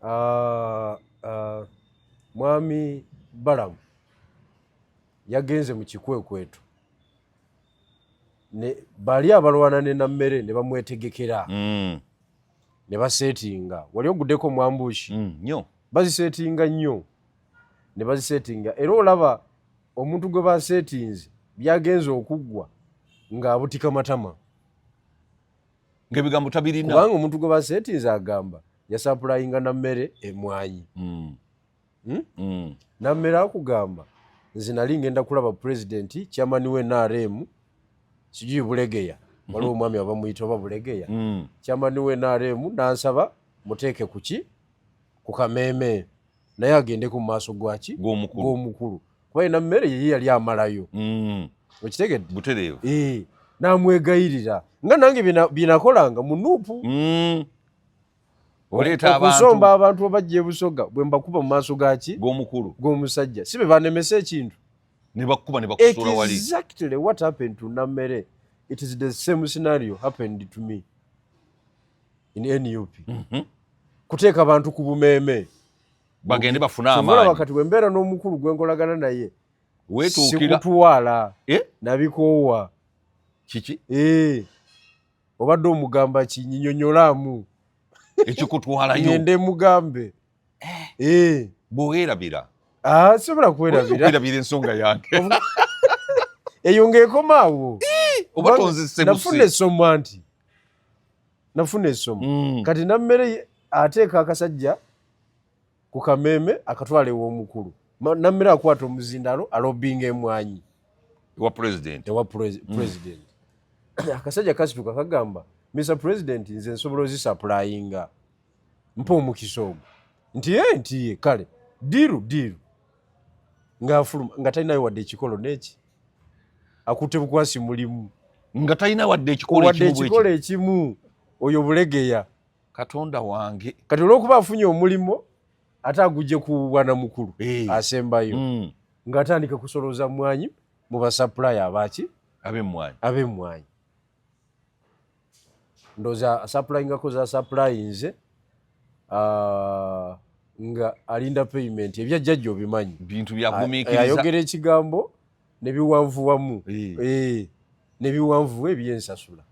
uh, uh, mwami balamu yagenze mu kikwekweto ne bali abalwana ne nammere ne bamwetegekera mm. ne basetinga wali oguddeko mwambushi mm, nyo bazisetinga nnyo ne bazisetinga era olaba omuntu gwe basetinze byagenze okuggwa ng'abutika matama ngaebigambo tabirina kubanga omuntu gwe basetinze agamba yasapulayinga na mmere emwanyi mm. Hmm? Mm. nammere akugamba nze nali ngenda kulaba pulezidenti kyamani we nrm sijuyi bulegeya mhm. waliwo omwami abamuyita oba bulegeya mm. kyamani we nrm nansaba muteeke kuki ku kameeme naye agendeko mu maaso gwaki gwomukulu kuba yina mmere yeye yali amalayo mm. okitegedde butereevu eh, namwegayirira nga nange byenakolanga munuupu mm. oleeta okusomba abantu abajja ebusoga bwe mbakuba mu maaso gaki gomukulu gomusajja si be banemesa ekintu nebakuba nebakusuula wali exactly what happened to nammere it is the same scenario happened to me in nup mm -hmm. kuteeka abantu ku bumeeme bagende bafune amaanyi kati bwe mbeera n'omukulu gwe nkolagana naye sikutwala eh? nabikoowa kiki eh. obadde omugamba ki nyinyonyolaamu ekikutwalayo ngende mugambe eh. bwewerabira ah, sobola kwerabiraokwirabira ensonga yange eyo ngaekomaawo nafuna essomo anti nafuna essomo mm. kati nammere ateeka akasajja ku kameeme akatwala ew'omukulu nammere akwata omuzindalo alobinga emwanyi ewa president ewa mm. president akasajja kasituka kagamba mr president nze nsobola ozisapulayinga mpa omukisa ogwo nti ye nti ye kale diru diru ngaafuluma nga talinayo wadde ekikolo neki akutte bukwasi mulimu nga talina wadde ekikolo ekimu oyo bulegeya katonda wange kati olwokuba afunye omulimo ate aguje ku bwana mukulu hey. Eh. asembayo mm. nga atandika kusoloza mwanyi mu basapply abaki abemwanyi abemwanyi ndoza asapply ngako za supply nze uh, nga alinda payment ebyajjajja obimanyi bintu byagumikiriza ayogera ekigambo ne biwanvu wamu eh. Eh, ne biwanvu ebyensasula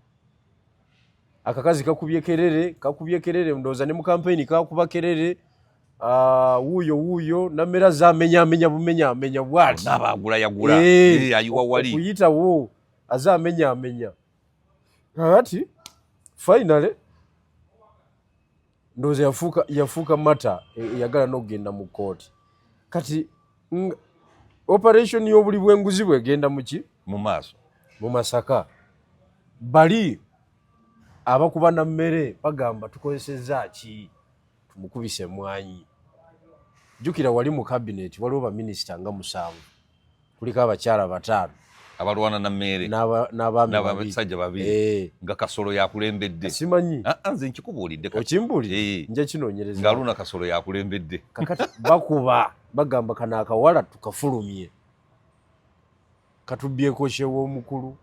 akakazi kakubye kerere kakubye kerere ndowooza ne mu kampeyini kakuba kerere ah, wuuyo wuuyo namera zamenyamenya bumenyamenya bwatiokuyitawo eh, azamenyamenya kakati finally ndoza yafuka yafuka mata e, yagala no genda mu court kati ng, operation yo buli bwenguzi bwe genda muki mu maso mu masaka bali abakuba na mere bagamba tukozeseza ki tumukubise mwanyi jukira wali mu cabinet waliwo ba minister nga musanvu kuliko abakyala bataano abalwana na meere n'abasajja babiri eh. nga kasolo yakulembedde simanyi ah, ah, nze nkikubuulidde okimbuulire eh. nja kinoonyereza nga aluna kasolo yakulembedde kakati bakuba bagamba kano akawala tukafulumye katubyeko shewa omukulu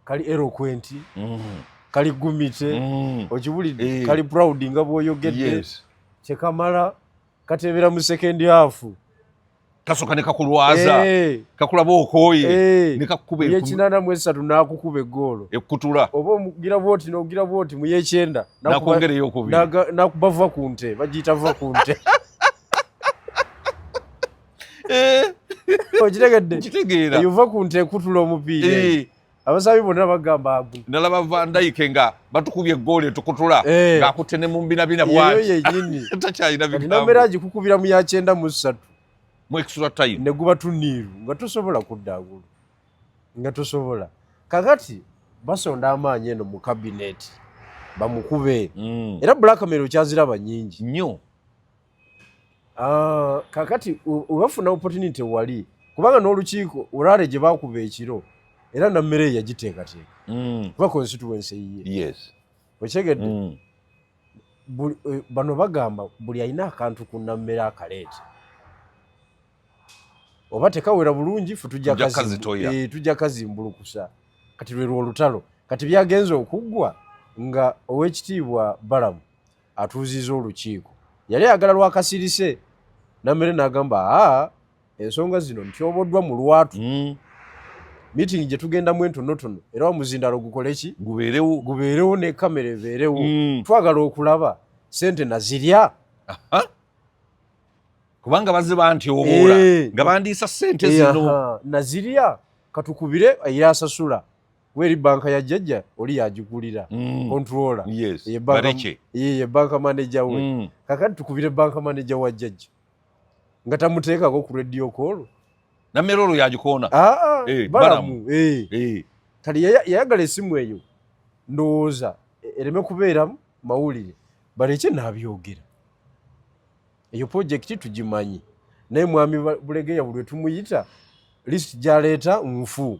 kali erokwenti mm. kali gumite mm. okibulidde eh. kali proud nga bwoyogedde kyekamala katebera mu sekendi hafu kasoka ne kakulwaza hey. Eh. kakulaba okoye hey. Eh. ne kakukuba ekumi yekinana mu esatu nakukuba egoolo ekutula oba omugira bwoti nogira bwoti mu yekyenda nakwongera eyokubiri nakubava ku nte bagiyita va ku nte eh. okitegedde eyo va ku nte ekutula omupiira abasabi bonna bagamba agwi nalaba vandayike nga batukubye egoolo etukutula eh. ng'akutte ne mu mbinabina bwayo yenyini takyalina bigambo agikukubira mu yakyenda mu ssatu mu extra time ne guba tuniiru nga tosobola kudda agulu nga tosobola kakati basonda amaanyi eno mu kabineeti bamukube mm. era blackmail okyaziraba nyingi nnyo Ah, kakati webafuna opportunity wali kubanga n'olukiiko olwale gye bakuba ekiro era nammere eyo yagiteekateeka mm. kuba constituency yiye yes. okyegedde mm. eh, bano bagamba buli alina akantu ku nammere akaleete oba tekawera bulungi fe tujja eh, kazimbulukusa kati lwerwo olutalo kati byagenze okuggwa nga owekitiibwa balamu atuuziza olukiiko yali ayagala lwakasirise namere nagamba aa ensonga zino ntyoboddwa mu lwatu mm. meeting gye tugendamu entonotono era omuzindalo gukoleki gubeerewo gubeerewo ne kamera ebeerewo mm. twagala okulaba sente nazirya kubanga baziba nti oboola eh. nga bandiisa sente zino nazirya katukubire eyasasula weri banka ya jajja oli yagigulira mm. controller yes. ye banka, Bareche. ye banka manager we mm. kakati tukubire banka manager wa jajja nga tamuteekako ku radio call namera olwo yagikoona hey, ah, ah, eh, balamu hey. Eh. hey. Eh. kati yayagala esimu eyo ndowooza e, ereme kubeeramu mawulire baleke nabyogera eyo purojekiti tugimanyi naye mwami bulegeya buli wetumuyita list gyaleeta nfu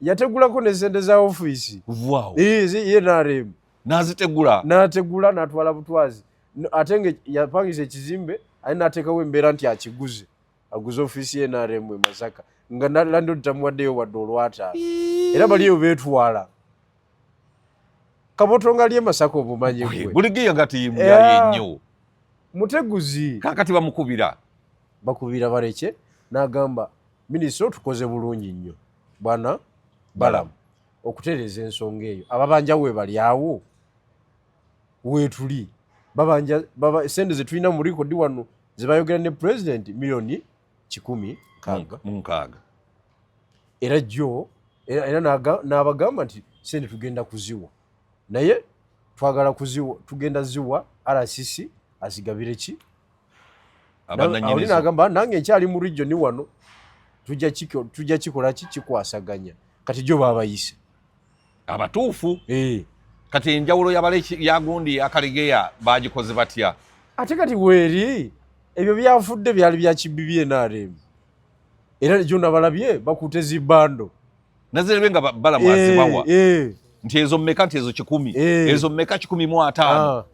yategulako ne sente za ofiisi ye nrm nazitegula nategula natwala butwazi ate nga yapangisa ekizimbe aye natekawo embeera nti akiguze aguze ofiisi ye nrm e masaka nga landod tamuwaddeyo wadde olwataano era baliyo betwala kabotonga lye masaka obumanyi gwe buligiya gati muyayennyo muteguzi kakati bamukubira bakubira bareke nagamba Minisita otukoze bulungi nnyo bwana Balamu okutereeza ensonga eyo ababanja we bali awo weetuli babanja baba sente zetulina mu record wano zebayogera ne president milioni kikumi mukaaga era jjo era n'abagamba nti sente tugenda kuziwa naye twagala kuziwa tugenda ziwa rcc azigabire ki abananyinizo agamba nange nkyali mu region wano tujja kiko tujja kikola ki kikwasaganya kati jo babayise abatuufu eh kati enjawulo yabale yagundi akaligeya bagikoze batya ate kati weri ebyo byafudde byali bya kibbi bye narem era jo nabalabye bakutezi bando nazirebe nga bala mwazibawa eh, eh. nti ezo meka nti ezo kikumi eh. ezo meka kikumi mu ataano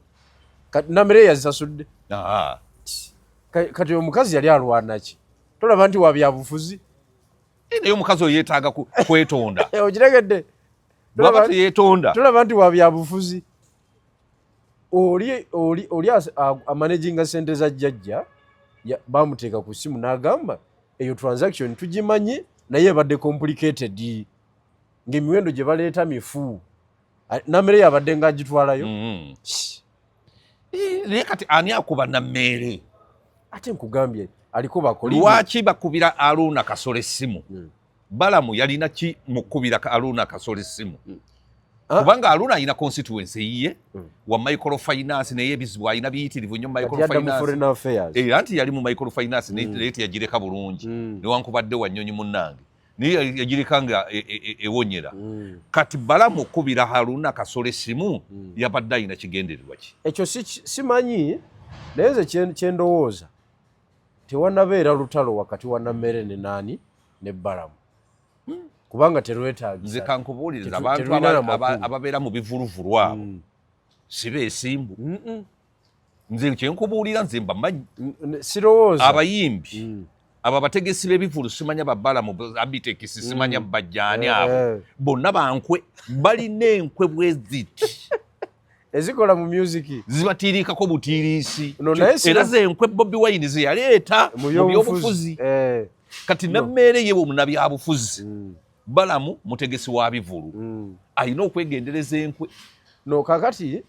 ah. namere yazisasudde ah. kati omukazi yali alwanaki tolaba nti wabyabufuzi naye omukazi oyo yetaaga kwetonda okiregedde tolaba nti wabyabufuzi oli oli oli amanaginga sente za jjajja bamuteeka ku simu n'agamba eyo transaction tugimanyi naye ebadde complicated ng'emiwendo gye baleeta mifu namere yabadde nga agitwalayo mm-hmm. naye kati ani akuba namere ate nkugambye aliko bakoli lwaki bakubira aruuna kasolo essimu mm. balamu yalina ki mukubira aluna kasoli simu mm. Ah. kubanga aluna alina constituency yiye mm. wa micro finance naye ebizibu alina biyitirivu nyo micro finance era eh, nti yali mu micro finance mm. naye teyagireka bulungi mm. newankubadde wanyonyi munange naye yagireka nga e, e, e, ewonyera mm. kati balamu kubira haruna kasole simu mm. yabadde alina kigendererwa ki ekyo simanyi naye nze kyendowooza tewanabeera lutalo wakati wa nammere ne naani ne balamu hmm. kubanga terwetaagisa kankubuuliriza abantu ababeera mu bivuluvulu abo hmm. siba esimbu nze kyenkubuulira nze mbamanyi sirowooza abayimbi hmm. abo abategesi b'ebivulu simanya babalamu abitekisi simanya bajjaani eh, abo eh. bonna bankwe balina enkwe bweziti ezikola mu music zibatiirikako butiiriisi era zenkwe bobi wine zeyaleeta mu byobufuzi eh. kati nammeere ye bwomunabyabufuzi mm. balamu mutegesi wa bivulu mm. alina okwegendereza enkwe no kakati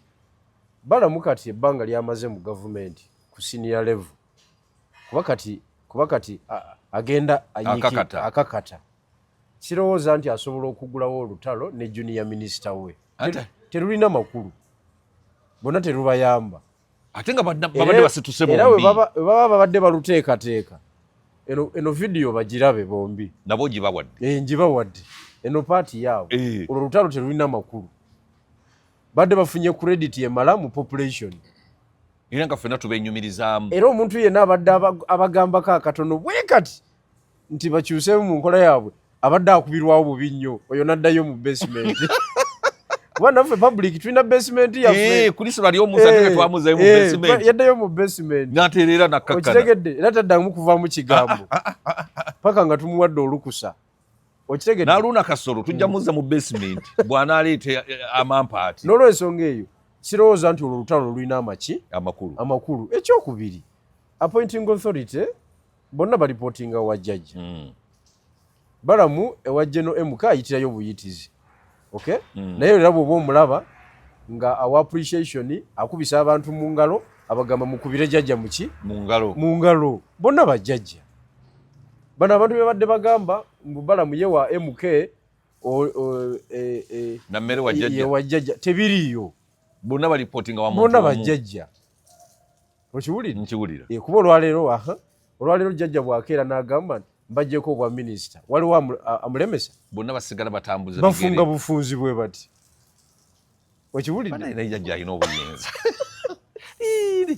balamu kati ebbanga lyamaze mu gavumenti ku sinia levu kuba kati kuba kati agenda akakata Sirowooza nti asobola okugulawo olutalo ne junior minister we. Terulina makulu. Bona terubayamba. Ate nga babadde basituse bombi. Era we baba babadde baluteekateeka. Eno, eno video bagirabe bombi. Nabo njibawadde. Eh, njibawadde. Eno paati yaabwe. Eh. Olwo olutalo terulina makulu. Badde bafunye credit emala mu population. era nga ffena tubenyumirizaamu era omuntu yenna abadde abagambako akatono bwekati nti bakyuseemu mu nkola yaabwe abadde akubirwawo bubi nnyo oyo n'addayo mu basement kuba naffe public tulina basement yaffeyaddayo mu basementokitegedde era taddamu kuva mu kigambo ah, ah, ah, paka nga tumuwadde olukusa okitegedde naluuna kasolo tujja muzza mu basement bw'anaaleeta eh, eh, amampaati n'olwensonga eyo sirowooza nti olwo olutalo lulina amaki amakulu amakulu ekyokubiri appointing authority bonna balipotinga wa jajja mm. balamu ewa geno mk ayitirayo obuyitizi okay? mm. naye era bwoba omulaba nga awa appreciation akubisa abantu mu ngalo abagamba mukubire jajja muki mu ngalo bonna bajajja bano abantu bebadde bagamba mbu balamu ye wa mk e, e, yewajjajja tebiriiyo bonna bajjajja okiwulira nkiwulira eh, kuba olwaleero aha olwaleero jjajja bwakeera n'agamba nti mbajjeko obwa minisita waliwo amulemesa bonna basigala batambuza bafunga bufunzi bwe bati okiwulidde jajja alina obuyinza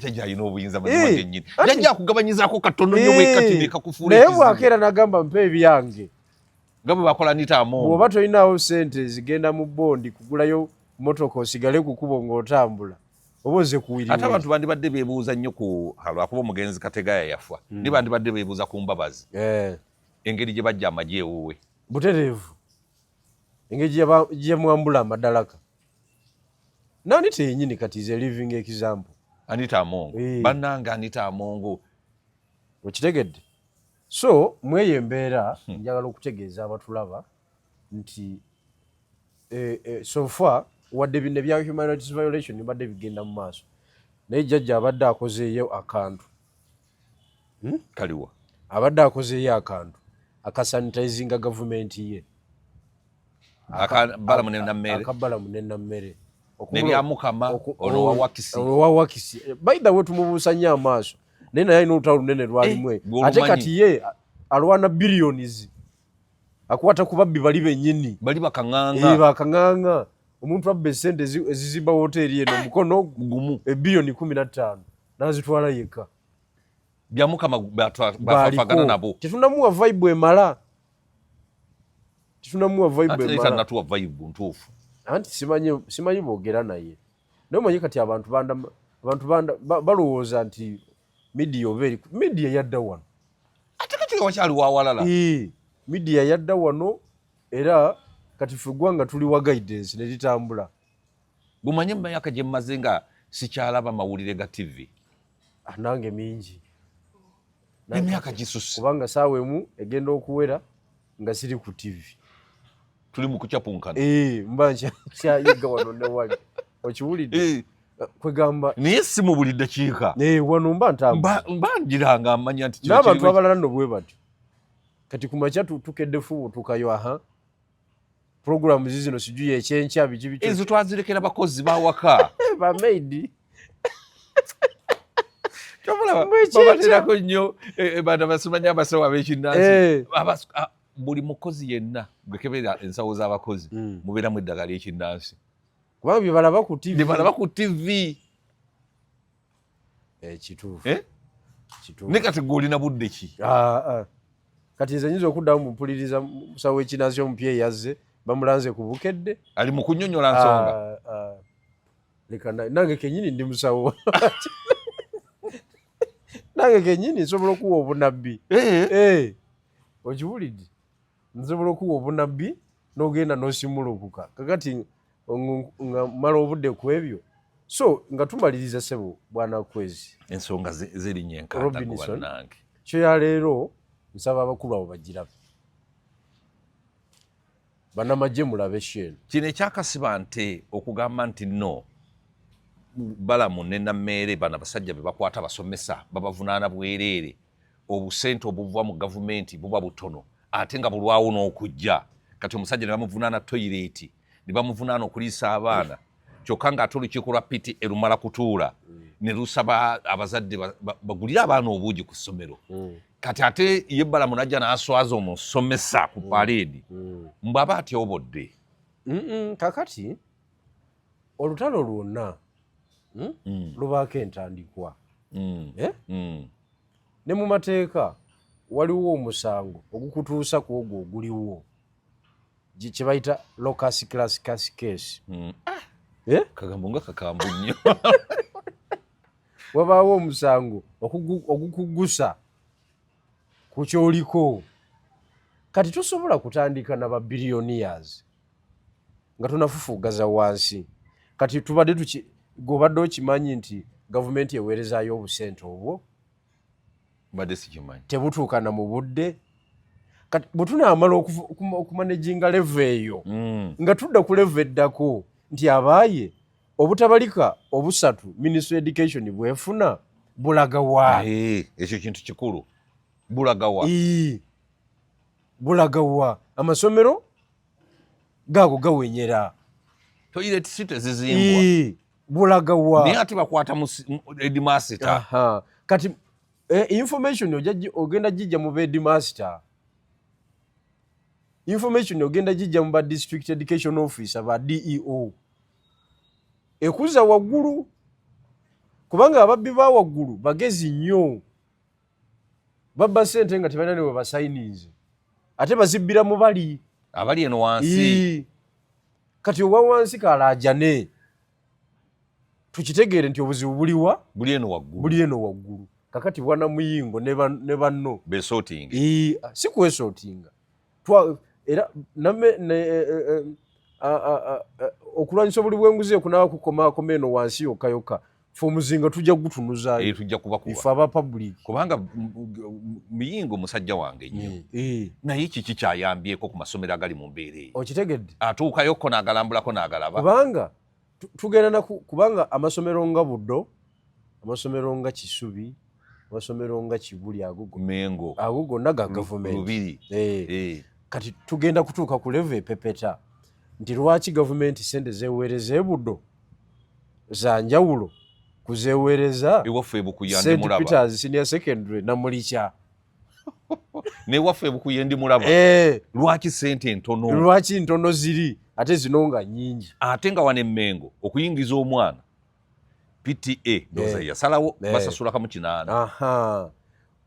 jajja alina obuyinza magenyini eh, jajja akugabanyizako katono nyo wekati nekakufuula naye bwakeera nagamba mpa ebyange nga bwe bakola nitaamu bwoba tolinaawo sente zigenda mu bondi kugulayo motoka osigale kukubo ng'otambula oba ozze kuwulira ate abantu bandibadde beebuuza nnyo ku lwakuba omugenzi kategaya yafa hmm. ni bandibadde beebuuza ku mbabazi eh. engeri gye bajja amagye ewuwe butereevu engeri gye mwambula amadalaka nani teyenyini kati is a living example anita amongo eh. bannange anita amongo okitegedde so mweyo embeera hmm. njagala okutegeeza abatulaba nti eh, eh, so far wadde bino ebya human rights violation bibadde bigenda mu maaso naye jjajja abadde akozeeyo akantu hmm? kaliwa abadde akozeeyo akantu akasanitizinga gavumenti ye akabalamu nenammere nebyamukama olwowawakisi by the way tumubuusa nnyo amaaso naye naye alina olutalo lunene lwalimu eh, ate kati ye alwana billions akwata ku babbi bali bennyini bali bakaŋaŋa eh, bakaŋaŋa omuntu abba esente ezizimba woteeri eno omukono gumu ebiyoni eh, kumi na ttaano n'azitwala yekka byamukama bafagana nabo tetunamuwa vaibu emala tetunamuwa vaibu emalatuwa vaibu ntuufu anti simanyi boogera naye naye omanyi kati abantu balowooza nti Media oba eri media yadda wano. Ate kati nga wakyali wa walala. Ee, media yadda wano era kati ffe eggwanga tuli wa guidance ne litambula. Gumanye mu myaka gye mmaze nga sikyalaba mawulire ga TV. Ah, nange mingi. Emyaka gisusse. Kubanga saawa emu egenda okuwera nga siri ku tv tuli mu kucapunkana eh, mba nkyayiga wano ne wali okiwulidde eh. kwegamba naye si mu buli ddakiika eh, wano mba ntambanjiranga amanya nti n'abantu abalala no bwe batyo kati ku makya tukedde fubutukayo aha program zizino sijuye ekyenkya biki biki ezo twazirekera bakozi bawaka ba maid babaterako nnyo eh, eh, bana basimanya abasawo abekinansi eh. ah, buli mukozi yenna gwekebera ensawo z'abakozi hmm. mubeeramu eddagala ekinansi kubanga byebalaba ku tv byebalaba ku tv eh, kituufu eh? kituufu ne kati gwe olina budde ki ah, ah. kati nze nyinza okuddamu mumpuliriza musawo w'ekinazi omupya eyazze bamulanze ku bukedde ali mu kunyonyola nsonga ah, leka nange kenyini ndi musawo nange kenyini nsobola okuwa obunabbi eh. okiwulidde nsobola okuwa obunabbi nogenda nosimulukuka kakati nga mala obudde ku ebyo so nga tumaliriza sebo bwana kwezi ensonga zirinya enkantaobinson kyo yaleero nsaba abakulu abo bagirabe banamagye mulabe sheen kino ekyakasiba nte okugamba nti no balamu nenammeere bana basajja bebakwata basomesa babavunaana bwereere obusente obuva mu gavumenti buba butono ate nga bulwawo n'okujja kati omusajja ne bamuvunaana toyireeti ne bamuvunaana okuliisa abaana kyokka ng'ate olukiiko lwa pta e lumala kutuula ne lusaba abazadde bagulire abaana obuugi ku ssomero mm. kati ate ye balamu najja n'aswaza omusomesa ku mm. paleedi mm. mbwaba atyobodde kakati olutalo lwonna hmm, hmm. lubaako entandikwa hmm. Eh? ne mu mateeka waliwo omusango ogukutuusa ku ogwo oguliwo kye bayita locus classicas case ah! eh? kagambo nga kakambu nnyo wabaawo omusango ogukugusa ku kyoliko kati tosobola kutandika na babilionias nga tunafufugaza wansi kati tubadde tuki gobadde okimanyi nti gavumenti eweerezayo obusente obwo badde sikimanyi tebutuukana mu budde kati bwe tunaamala okumanejinga levo eyo mm. nga tudda ku levo eddako nti abaaye obutabalika obusatu ministry education bwefuna bulagawa ekyo kintu kikulu bulagawa bulaga wa amasomero gaago gawenyera toilet si tezizimbwa bulaga wa naye ate bakwata mu edmasita kati eh, information ogenda gijja mu bedmaster information ogenda gijja mu ba district education officer ba deo ekuza waggulu kubanga ababbi ba waggulu bagezi nnyo babba sente nga tebalina ne webasayininze ate bazibbira mu bali abali eno wansi kati owa wansi kalaajane tukitegeere nti obuzibu buliwa buli eno waggulu buli eno waggulu kakati bwana muyingo ne banno besotinga si kwesotinga era name e, e, e, okulwanyisa obuli bwenguzi okunawa kukomaakoma eno wansi yokka yokka fe omuzinga tujja kugutunuzayo eh, tujja kubakubafe aba public kubanga muyingo musajja wange nnyo eh, eh. naye kiki kyayambyeko ku masomero agali mu mbeera eyo okitegedde atuukayokko n'agalambulako n'agalaba kubanga tugenda na kubanga amasomero nga buddo amasomero nga kisubi amasomero nga kibuli agogo mengo ago gonna ga gavumenti kati tugenda kutuuka ku levo epepeta nti lwaki gavumenti sente zeweereza ebuddo za njawulo kuzeweereza ewaffe ebukuya ndi mulaba St Peter's Senior Secondary namulikya newaffe ebukuya ndi mulaba eh. lwaki sente ntono lwaki ntono ziri ate zino nga nyingi ate nga wane Mengo okuyingiza omwana PTA ndoza eh. yasalawo eh. basasula kamu kinana aha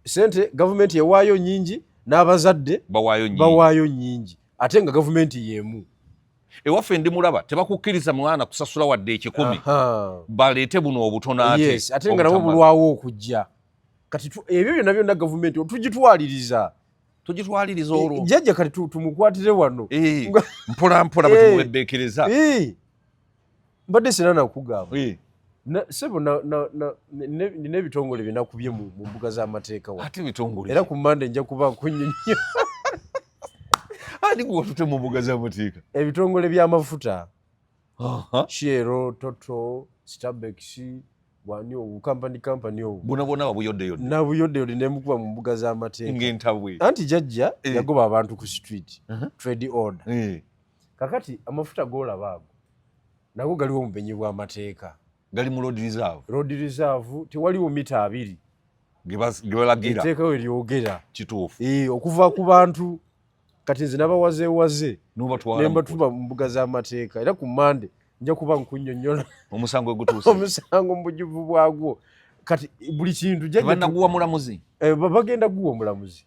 sente government yewayo nyingi n'abazadde bawayo nyingi ate nga gavumenti yemu ewaffe ndi mulaba tebakukkiriza mwana kusasula wadde ekikumi baleete buno obutono ate nga nabo bulwawo okujja kati ebyo byonna byonna gavumenti tugitwaliriza tugitwaliriza olwo eh, jjajja kati tumukwatire wano eh, mpolampola bwetumweddeekereza eh. mbadde sina nakugamba eh. sebo nina ebitongole byenakubye mu mbuga z'amateeka era ku mande nja kuba nkunyonyo ani gwewatute mu mbuga z'amateeka ebitongole by'amafuta shiero toto stabexi wani obu kampani kampani obu bona bona babuyodde yodde nabuyodde yodde nemukuba mu mbuga z'amateeka ng'entabwe anti jajja eh. yagoba abantu ku street uh-huh. trade order eh. kakati amafuta golaba ago nago galiwo omubenyi bw'amateeka gali mu road reserve road reserve tewaliwo mita abiri gebalagira eteeka we lyogera kituufu ee eh, okuva ku bantu kati nze nabawazeewaze nembatuma mu mbuga z'amateeka era ku mande nja kuba nkunyonyola omusango egutuuse omusango mu bujuvu bwagwo kati buli kintu jajanaguwa mulamuzi eh, bagenda guwa omulamuzi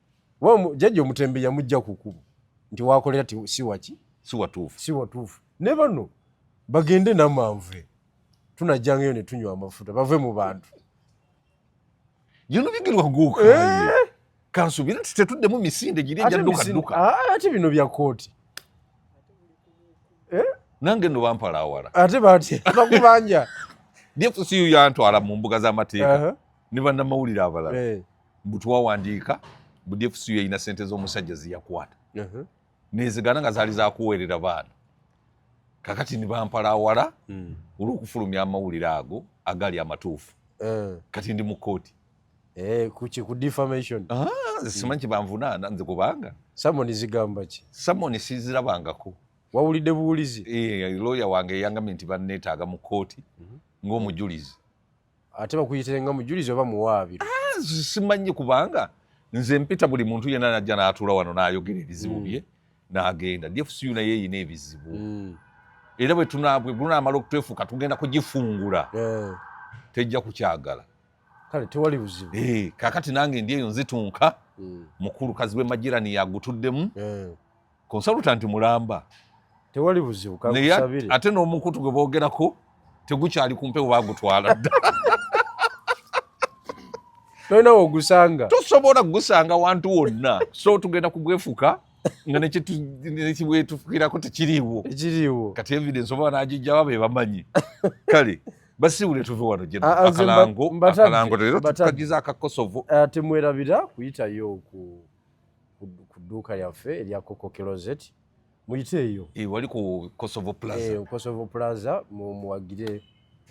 jajja omutembe yamujja kukubo nti wakolera ti siwaki siwatuufu siwatuufu ne bano bagende namanve tunajjangayo ne tunywa amafuta bave mu bantu bino bigirwa guuka eh? kansubira nti tetuddemu misinde giri ejaddukaduka ah, ate bino bya kooti eh? nange no bampala awala ate batya bakubanja dfcu yantwala mu mbuga z'amateeka uh-huh. ne bannamawulire abalala eh. mbu twawandiika mbu dfcu yalina sente z'omusajja ziyakwata uh-huh. nezigana nga zaali zakuweerera baana kakati nibampala awala hmm. olw'okufulumya amawulire ago agali amatuufu eh. kati ndi mu kkooti eh, kuki ku defamation ah, simanyi kibanvunaana nze kubanga samoni zigamba ki samoni sizirabangako wawulidde buwulizi eh, looya wange yangambye nti banneetaaga mu kkooti mhm. ng'omujulizi ate bakuyitire nga mujulizi oba muwaabi ah, simanyi kubanga nze mpita buli muntu yena najja natuula wano nayogera ebizibu mm. bye nagenda dfcu naye eyina ebizibu mm. era bwetunamala okutwefuka tugenda kugifungula eh. tejja kukyagala kale tewali buzibu eh, kakati nange ndi eyo nzitunka mm. mukulu kazi wemajirani yagutuddemu eh. Consultant mulamba. Tewali buzibu kakusabire. Ate n'omukutu gwe boogerako tegukyali ku mpewo bagutwala dda. Tolina wogusanga. Tosobola kugusanga wantu wonna. So tugenda kugwefuka nga nekibwetufukirako tekiriiwo ekiriiwo kati evidence oba nagijjawo be bamanyi kale basiwule tuve wano akalango akalango lero tukagiza akakosovo eh, temwerabira kuyitayo oku ku dduuka lyaffe erya coco closet muyite eyo eh, wali ku kosovo plaza eh, kosovo plaza muwagire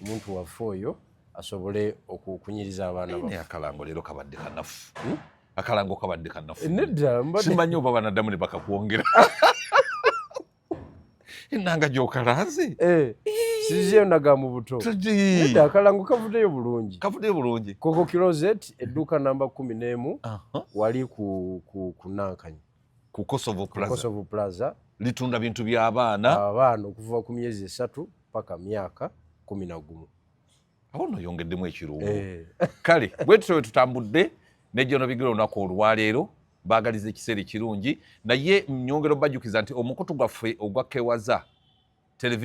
omuntu waffe oyo asobole okukunyiriza abaana eh, naye akalango leero kabadde kanafu hmm? akalango kabadde kanafu nedda simanyi oba banadamu ne bakakwongera enanga gyokalanze eh. siziyo naga mu buto nedda akalango kavudeyo bulungi kavudeyo bulungi koko kilozet edduuka namba kumi n'emu wali ku nankanyi ku kosovo plaza litunda bintu by'abaana abaana okuva ku myezi esatu paka myaka kumi na gumu awo no yongeddemu ekirungo eh. kale bwetutyo wetutambudde nejjono bigira olunaku olwaleero baagaliza ekiseera ekirungi naye nyongera obajukiza nti omukutu gwaffe ogwa kewaza television